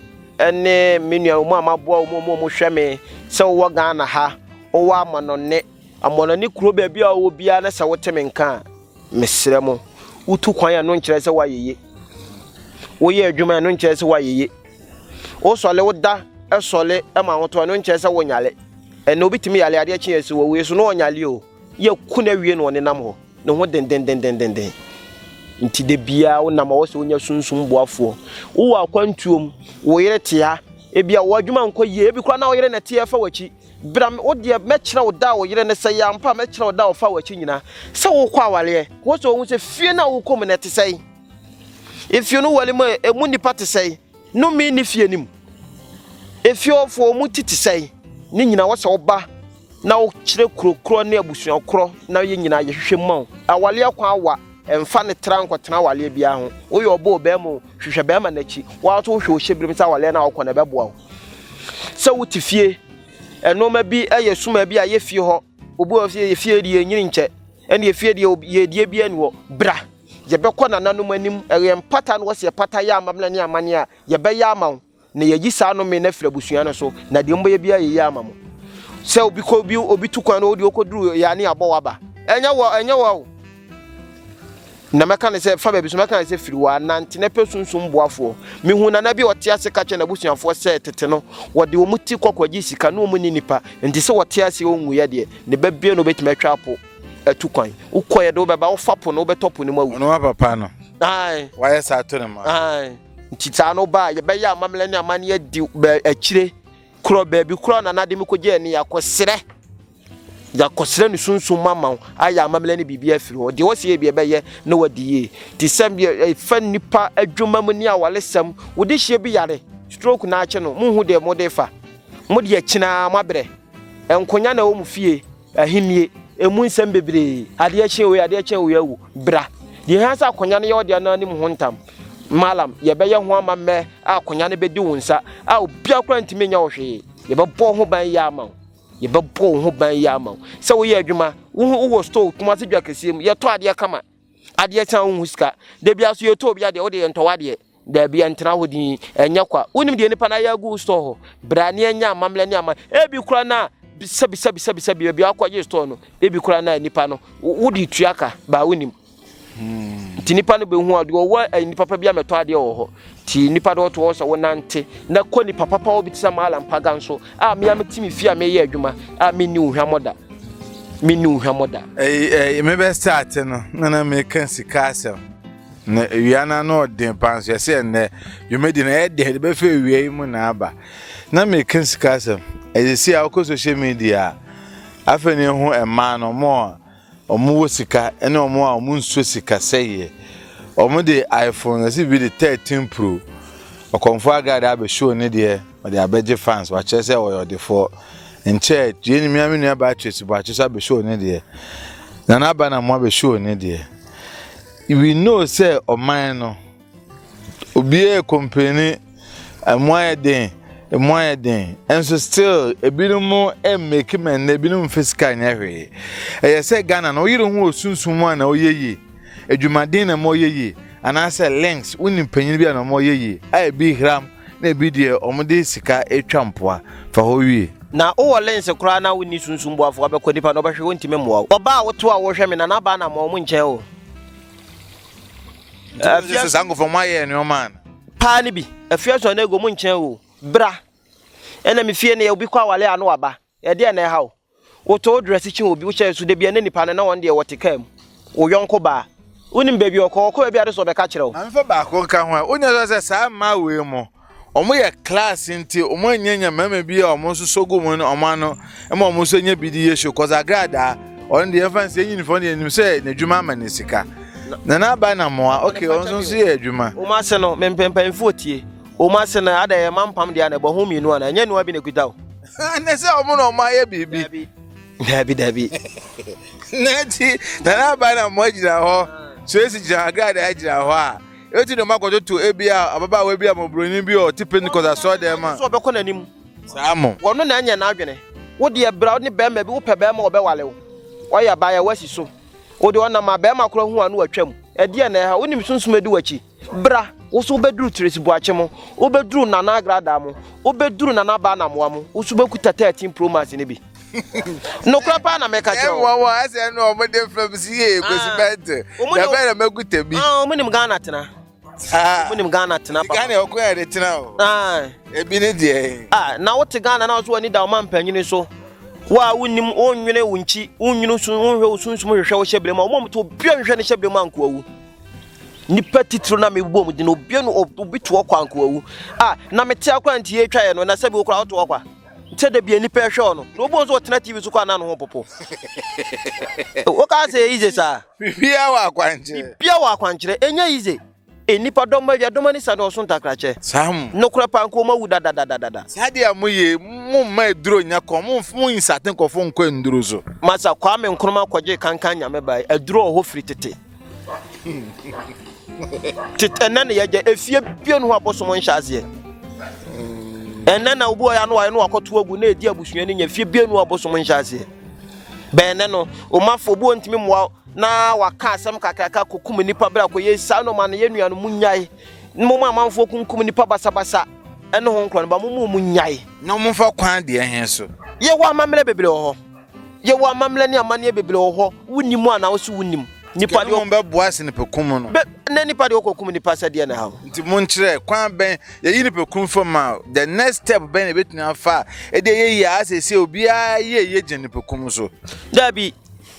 ne me nua wɔn a maboa wɔn mu wɔn hwɛ me sɛ wowɔ Ghana ha, wowɔ amanɔne, amanɔne kuro baabi a wowɔ biara na sɛ wote me nka a, mesrɛ mo, wotu kwan a ɛno nkyerɛ sɛ woayɛ ye. Woyɛ adwuma a ɛno nkyerɛ sɛ woayɛ ye. wosɔle woda sɔle ma ahotɔ ɛno nkyerɛ sɛ wonyale ɛnna obi tumi yale adeɛ kye ɛsi wɔwie so na ɔnyale o yɛku no awie na ɔnenam hɔ ne ho dendendendenden nti da biara wonam ɔwɔ sɛ wonya sunsum boafoɔ wowɔ akwantuom wo yere tea ebi a wɔadwuma nkɔ yie ebi koraa na wo yere na ɛteɛ fa w'akyi bra wo deɛ mɛkyerɛ wo da a wo yere ne sɛ yɛ ampa mɛkyerɛ wo da a wɔfa w'akyi nyinaa sɛ wokɔ awaleɛ wɔ sɛ ɔhu sɛ fie no a wokɔ mu no ɛte sɛe Efie no wale mu a, emu nnipa te sɛn? Nnome nni fie no mu. Efie hɔfoɔ, wɔn ti te sɛn? Ne nyinaa wɔ sɛ woba na wokyerɛ kuro korɔ ne abusua korɔ na yɛn nyinaa yɛhwehwɛ mu ma wo. Awaleɛ kwan awa, mfa no tra nkɔtena awaleɛ biara ho. Woyɛ ɔbaa o, barima o, hwehwɛ barima no akyi. Wo ara nso wohwɛ wohyɛ birim sɛ awaleɛ no a wokɔ no ɛbɛboa wo. Sɛ wote fie, nnoɔma bi yɛ suma bi a yɛ fie hɔ. Obi wɔ fie, yɛ fie deɛ ɛnyini nkyɛ. Ɛne yɛ fie deɛ yɛdie biara ni hɔ. Bra! Yɛbɛkɔ nananom anim. Ɛyɛ mpata no, wɔse yɛpata yɛ amamena ne amanneɛ a, yɛbɛyɛ ama wo, na yɛayi saa nnome no afiri abusua no so, na deɛ mobɛyɛ biara yɛyɛ ama mo. Sɛ obi kɔ obi obi tu kwan no, ɔde ɔkɔduru yɛ ane abɔ wo aba. Ɛnyɛ wɔ, ɛnyɛ wɔ o. Na mɛka ne sɛ, fa baabi so, mɛka ne sɛ, firi hɔ a, nante na pɛ sunsum boafoɔ. Mehuu nana bi a ɔte ase ka kyerɛ n'abusuafoɔ sɛ, tete no, wɔde wɔn ti kɔ kɔgye sika, na wɔnni nnipa, enti sɛ ɔte ase a ɔnwuiɛ deɛ, ne ba biara na ɔbɛtumi atwa apo. Atu kwan. Wokɔ yɛ de wobɛba wofa po no wobɛtɔ po no mu awu. Ɔno wa papa no. Ae. Wayɛ saa to ne ma. Ae. Nti saa no ba yɛbɛyɛ amammerɛ ne amanneɛ di akyire korɔ baabi korɔ na n'ade mu kɔgye ani yɛakɔsrɛ yɛakɔsrɛ ne sunsun ma ma wo ayɛ amammerɛ ne biribi afiri hɔ deɛ wɔsi yɛ bi ɛbɛyɛ na wadi yie te sɛ ɛfa nipa adwuma mu ne awalesɛm wode hyia bi yare stroke na akye no mo hu deɛ mo de fa mo deɛ kyinaa mo abrɛ nkonya na ɛwɔ mo fie Ahennie, emu nsɛm bebree, adeɛ kye wei, adeɛ kyɛ wei awu, bra. Deɛ ɛhia sɛ akonnwa no yɛ ɔdeɛ no anim ho ntam. Malam, yɛbɛyɛ ho ama mmɛ a akonnwa no bɛdi wo nsa a obiara koraa ntumi nyɛ wo hwee. Yɛbɛbɔ ho ban yie ama wo. Yɛbɛbɔ wo ho ban yie ama wo. Sɛ woyɛ adwuma, wohu wowɔ store, Kumasi dwa kɛseɛ mu, yɛtɔ adeɛ kama. Adeɛ kye a wonhu sika. Da biara so yɛtɔ obi adeɛ, wo deɛ yɛntɔ w'adeɛ. Dabi, ɛntena hɔ din, ɛnyɛ kwa. Wonim deɛ nipa no ayɛ agu wo store hɔ? Bra ne ɛnyɛ amammerɛ ne ama. Ebi kora no a, bisa bisa bisa bisa bi baabi a akɔgye store no. Ebi kora no a nipa no, wode tua ka, baa wonim. Hmm. Nti nipa no bɛhu a, deɛ ɔwɔ eh, nipa pa bi a mɛtɔ adeɛ wɔ hɔ. Nti nipa no ɔto hɔ sɛ wonante na kɔ nipa papa wɔ bi te sɛ maala mpaga nso a mea mete me fie a meyɛ adwuma a menni wo hwammɔ da. Menni wo hwammɔ da. Ɛyi, ɛyi, mebɛsɛ ate no, na na meka sika asɛm. Na awia no ano ɔden paa nso yɛsɛ ɛnnɛ dwumadi no ɛyɛ den de bɛfɛ awia yi mu na aba na meka sika asɛm ɛyɛ si a wokɔ social media a afei ne ho mmaa no ɔmo a ɔmo wɔ sika ɛne ɔmo a ɔmo nso sika sɛyɛ ɔmo de iphone ɛsi bi de 13 pro ɔkɔmfo agade abɛhyɛ ne deɛ ɔde abɛgye fans wakyerɛ sɛ ɔyɛ ɔdefoɔ nkyɛ yɛn nyimia me nua Beatrice Boakye so abɛhyɛ ne deɛ na n'aba na mo abɛhyɛ ne deɛ We know sɛ ɔman no, obiara yɛ kɔmpani, ɛmu ayɛ den, ɛmu ayɛ den, nso still ebinom mmeki mɛ na ebinom mfe sika nyɛ hwee. Ɛyɛ sɛ Ghana no woyere ho wɔ sunsum mu a na ɔyɛ yie, adwumaden na ɛma ɔyɛ yie, anaasɛ links, wonim panyin bi a na ɔma ɔyɛ yie, a ebi hram, Na ebi deɛ wɔde sika twa mpoa fa hɔ wie. Na wowɔ lense koraa na wonni sunsum boafo a, bɛkɔ nipa no ɔbɛhwe wontumi mmoa wo. Ɔbaa a woto a wohwɛ me na n'abaa na mmoa wɔn nkyɛn o. Afia sɛ saa nkɔfɔ mo ayɛ nneɛma ana. Paa no bi. Afia so anaa ego mo nkyɛn o. Bra. Ɛna me fie no yɛ obi kɔ awale a na waba. Ɛdeɛn na ɛha wo? Wotɔ wo drɛse kyi obi, wohyɛ nso da bia na nipa no na wɔn deɛ wɔte kaa mu. Wo yɔnko baa. Wonim baabi a ɔkɔ, ɔkɔ baabi a ade sɛ ɔbɛka akyerɛ wo. Maame fa baako nka ho a, wonya sua sɛ saa mmaa wei mo, wɔn yɛ class nti wɔn nnya nya mmarima bi a wɔn nso sɔ gu wɔn wɔn ano ma wɔn nso nya bi di yɛ show cause agradaa ɔno deɛ yɛmfa nsɛ nyini fɔ deɛ nim sɛ n'adwuma ama ne sika na n'aba na mmoa okay wɔn nso nso yɛ adwuma. Wɔn ase no mempɛ mpanyinfoɔ tie wɔn ase no ada yɛ mampam deɛ na ɛbɔ ho mmienu ana ɛnyɛ nua bi na ekuta o. ne sɛ ɔmo na ɔmo ayɛ biribi dabi dabi na nti nana aba na ɔmo agyina hɔ suesi gyina agrada agyina hɔ a eti na ɔmo akɔtoto ebi a ababaawa bi a mɔbroni bi a ɔte pentikɔs asɔ dɛm a. sɛ ɔbɛkɔ n'anim. saa mo. wɔn na ɛnyɛ n'adwene wo deɛ bra wo ne bɛrima bi wopɛ bɛrima ɔbɛwale wo ɔyɛ abaayɛ wasi so wo deɛ ɔnam a bɛrima kora hu a no watwam ɛdeɛ na ɛha wonim sunsum adi wakyi. Bra, wo so wobɛduru Tiresi Boakye mu, wobɛduru Nana Agradaa mu, wobɛduru Nana Aba Anamoah mu, wo so wobɛkuta 13 Pro Max no bi. Nokorɛ paa na meka kyerɛ wo. Ɛwɔ wɔn asɛ no wɔn de fam si yie kwasi bɛnte. Dabɛ na mɛkuta bi. Ah, wɔn nim Ghana tena. Ah, wɔn nim Ghana tena papa. Ghana ɔkò yɛ de tena o. Ah, ebi ne deɛ. Ah, na wote Ghana na ɔso wani da ɔma mpanyini so. Wo a wonim wonwene wo nkyi, wonwene sun, wonhwɛ wo sunsum hwehwɛ wo hyɛbrɛ mu a, wɔn to bia nhwɛ ne hyɛbrɛ mu ankoa wu. Nnipa titiriw na mebɔ mu din, obiara no obi to hɔ kwa nkoawu a na mete akora nti yɛtwa yɛ no na sɛ bi okora ɔto hɔ kwa sɛ da bi nnipa ɛhwɛ ɔno na obu nso ɔtena tv so kwa na ne ho popo woka sɛ yize saa bibia wɔ akwankyerɛ bibia wɔ akwankyerɛ ɛnyɛ yize nnipa dɔm ma awia dɔm ani sa ne ɔso ntakrakyɛ sam no kora pa nko ma wu dadadadada saa deɛ mo ye mo mma aduro nyɛ kɔn mo mo nsate nkɔfo nkɔ nduro so masa kwame nkroma kɔgye kankan nyame bae aduro ɔhɔ firi tete tete ɛnɛ na yɛgya efie bie no ho abosom nhyɛ aseɛ ɛnɛ na obi ɔyɛ ano ayɛ no wakɔto agu na edi abusua no nya fie bie no abosom nhyɛ aseɛ bɛnɛ no omafo obi ɔntumi mmoa na waka asɛm kakraka kɔkum nipa bere akɔyɛ saa na ɔma no yɛ nua no mu nyae mo ma amanfoɔ kunkum nipa basabasa ɛne ho nkora no ba mo mu mu nyae na ɔmfa kwan deɛ he so yɛwɔ amammerɛ bebree wɔ hɔ Yɛwɔ amammerɛ ne amanneɛ bebree wɔ hɔ, wonni mu anaa wose wonnim? Nnipa deɛ wɔn bɛboa sɛ nipakum no. Bɛ, na nnipa deɛ wɔkɔkum nnipa sɛ deɛ na ɛha wo. Nti monkyerɛ, kwan bɛn, yɛyi nipakum fam ma the next step bɛn na ɛbɛtumi afa a, ɛde ɛyɛ yie a asɛ ɛsɛ obiara yɛ ɛyɛ gyina nipakum so? Daabi,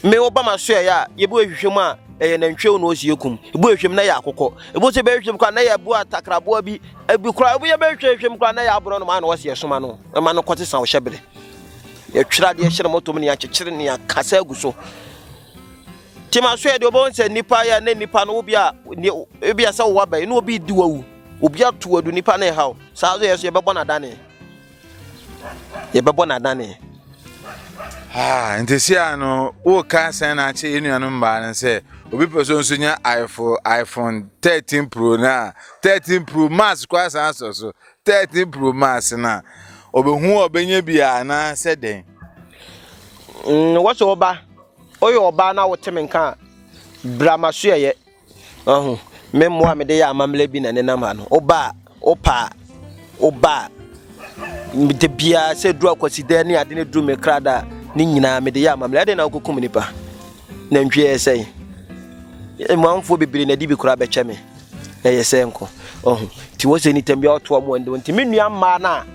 me woba maso ɛyɛ a, yɛbu ɛhwehwɛ mu a, ɛyɛ nantwie wo na ɔsi yɛkum, ɛbu ɛhwehwɛ mu na ɛyɛ akokɔ, ɛbu sɛ bɛhwehwɛ mu koraa na ɛyɛ ɛboa takraboa bi, ɛbi koraa, ɛbu yɛ bɛhwehwɛ hwehwɛ mu koraa na ɛyɛ aborɔnoma a na wɔse yɛsoma no, ɛma no kɔte sa wo hyɛbere. Yɛtwerɛ adeɛ hyɛ ne mɔtom ne yɛakyekyere ne yɛakasa agu so. Nti ma so yɛ deɛ wobɛhu sɛ nnipa yɛ ne nnipa no wobi a ebi a sɛ wowɔ abɛn ne obi di wawu obi ato adu nnipa ne ɛhaw saa so yɛ so yɛbɛbɔ no adane yɛbɛbɔ no adane Ah, nti si a no woka sɛn na akyɛ yɛ nuanom mmaa no sɛ obi pɛ so nso nya iphone iphone 13 pro no a 13 pro max kɔ asan asɔ so 13 Pro Max no a, ɔbɛhu a ɔbɛnya bi a anaasɛ dɛn? Mm, wɔsɛ ɔba, ɔyɛ ɔbaa na wote me nka a, bra ma so yɛyɛ. Ɔho, me mmoa a mede yɛ amammerɛ bi na nenam ha no, ɔba a, ɔpa a, ɔba a, da biara sɛ duru akwasidɛ ne ade ne duru me krada a, ne nyinaa mede yɛ amammerɛ. Ɛdɛn na wokɔkum nipa? Nantwie yɛ sɛn? Mmoafoɔ bebree na ɛde bi koraa bɛkyɛ me. Ɛyɛ sɛ nko. Ɔho. Ti wɔ sɛ nitam biara ɔtoa mu ɛndo. Nti me nua mmaa no a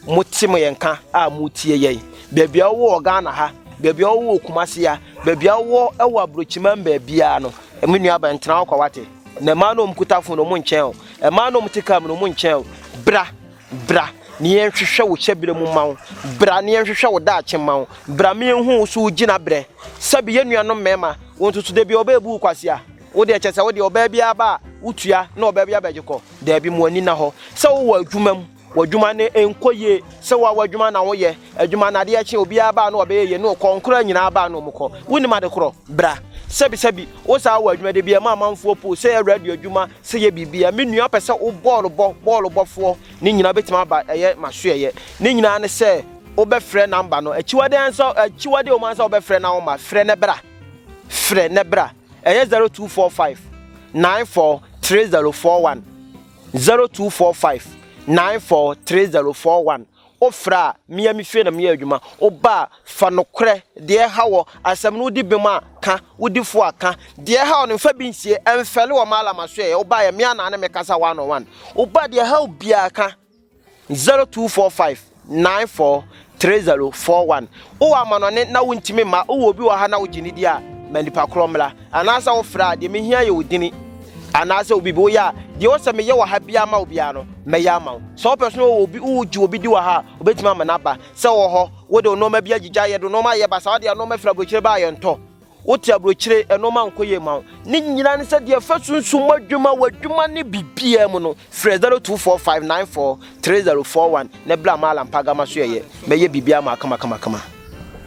mote mo yɛn ka a motie yɛn. Baabi a wowɔ wɔ Ghana ha, baabi a wowɔ wɔ Kumasi ha, baabi a wowɔ ɛwɔ aburokyiman baabiara no, me nua ba ntena hɔ kwa wate. Na mmaa no a wɔkuta fon no wɔn nkyɛn o. Mmaa no a wɔte kaa mu no wɔn nkyɛn o. Bra. Bra na yɛnhwehwɛ wo hyɛberɛ mu mma wo, Bra na yɛnhwehwɛ wo daakye mma wo, Bra ma yɛnhu wo so wo gyinaberɛ. Sɛbe yɛn nuanom mmarima, wo nso so da bi ɔbaa bu wo kwasea? Wo deɛ kyɛ sɛ wo deɛ ɔbaa biara ba a wotua na ɔbaa biara bɛgye kɔ? Daabi, mo ani nna hɔ. Sɛ wowɔ adwuma mu, w'adwuma no nkɔ yie, sɛ woawɔ adwuma na woyɛ adwuma na adeɛ kye obiara ba a na ɔbɛyɛ yie na ɔkɔ, nkoraa nyinaa ba a na wɔn kɔ. Wonim ade korɔ? Bra. Sɛbe sɛbe wo saa wɔ adwuma da bi a ɛma amanfoɔ poo sɛ yɛ radio adwuma Sɛ yɛ biribi a, me nua pɛ sɛ wo bɔɔlo bɔ, bɔɔlo bɔfoɔ, ne nyinaa wobɛtumi aba, ɛyɛ masoɛyɛ. Ne nyinaa ne sɛ wobɛfrɛ namba no. Akyiwadeɛ ansa, akyiwadeɛ wɔ mu ansa wobɛfrɛ na woma, frɛ na bra, frɛ na bra. Ɛyɛ 0245 94 3041, 0245 94 3041. Wo frɛ a, me a me fie na me yɛ adwuma, wo ba a, fa nokorɛ, deɛ ɛha wɔ, asɛm no wo di bem a, ka, wo di fo a, ka, deɛ ɛha wɔ no mfa bi nsie, ɛmfɛle wɔ m'Allah m'asoɛeɛ, wo ba yɛ me a na ne me kasa one on one, wo ba deɛ ɛha wo biara ka, zero two four five nine four three zero four one. wowɔ amanɔne na wontumi mma, wowɔ obi wɔ ha na wogye ne di a, ma nipa korɔ mmra. Anaasɛ wofrɛ a, deɛ mehia yɛ wo dini. Anaasɛ obi bi woyɛ a, deɛ wɔ sɛ meyɛ wɔ ha biara ma wo biara no, mɛyɛ ama wo. Sɛ wopɛ so na wowɔ obi, wogye obi di wɔ ha a, wobɛtumi ama no aba. Sɛ wowɔ hɔ, wode wo nnoɔma bi agyigya, yɛde wo nnoɔma ayɛ basaa, wode yɛn nnoɔma firi aburokyire ba a, yɛntɔ. Wote aburokyire, ɛnoɔma nkɔ yie ma wo. Ne nyinaa ne sɛ deɛ fa sunsum adwuma wɔ adwuma ne biribiara mu no, frɛ 0245943041 na bla ma Alan Pagama so yɛyɛ. Mɛyɛ biribiara ma akamakamakama.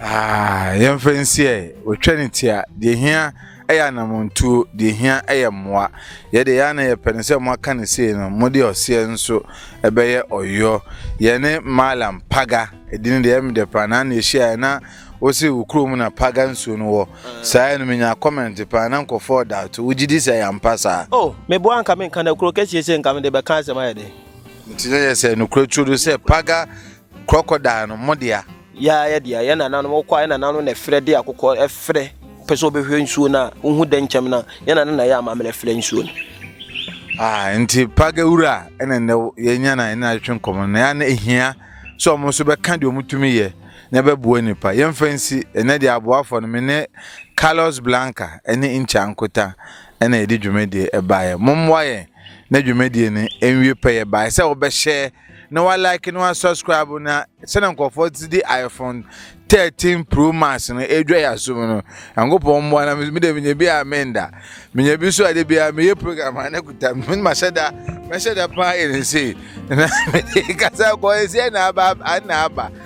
Ah, yɛmfa nsi ɛ, wɔtwa ne ti a, deɛ ɛhia yɛ anammɔntuo, deɛ ɛhia yɛ mmoa. Yɛ deɛ yɛ ara na yɛpɛ ne sɛ moaka no sei no, mode ɔseɛ nso bɛyɛ ɔyɔ. Yɛne Malam Paga, ɛdin deɛ ɛyɛ me dɛ paa, na na yɛhyiaeɛ na Wose wo kurom na paga nsuo no wɔ? Saa ɛno menya comment paa na nkɔfoɔ da to wogye di sɛ ɛyɛ ampa saa? Oh meboa anka menka no kuro kɛseɛ sei nka mede bɛka asɛm ayɛ dɛn. Nti na yɛ sɛ nokorɛ tuo do sɛ paga crocodile no mo dea? Yaa yɛ dea yɛ nananom wokɔ a yɛ nananom na ɛfrɛ de akokɔ ɛfrɛ pɛ sɛ ɔbɛhwɛ nsuo no a wohu dɛ nkyɛm no a yɛ nananom na yɛ amammerɛ frɛ nsuo no. Ah nti paga wura a ɛna nnɛ yɛnya na ɛna atwe nkɔmɔ no na yɛ na ehia sɛ ɔmo nso bɛka deɛ ɔmo tumi yɛ na ɛbɛboa nnipa. Yɛmfa nsi, ɛnnɛ deɛ aboafoɔ no, me ne Carlos Blanca ne Incha Nkuta na yɛde dwumadie ɛbaeɛ. Mommoa yɛn na dwumadie no ɛnwie pɛ. Yɛbaeɛ sɛ wobɛhyɛ na wa like na wa subscribe na sɛdeɛ nkurɔfoɔ te de iPhone 13 Pro Max no ɛredwa yɛ asom no. Nyankopɔn mmoa na me deɛ menya bi a menda. Menya bi so ade biara meyɛ program a na kuta me mahyɛ da mahyɛ da paa yɛ ne sei na mede kasa kɔɔ ɛsiɛ na aba na aba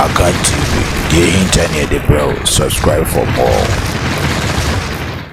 Akan TV, deɛ ɛhinta ne yɛde brɛ wo, subscribe for more.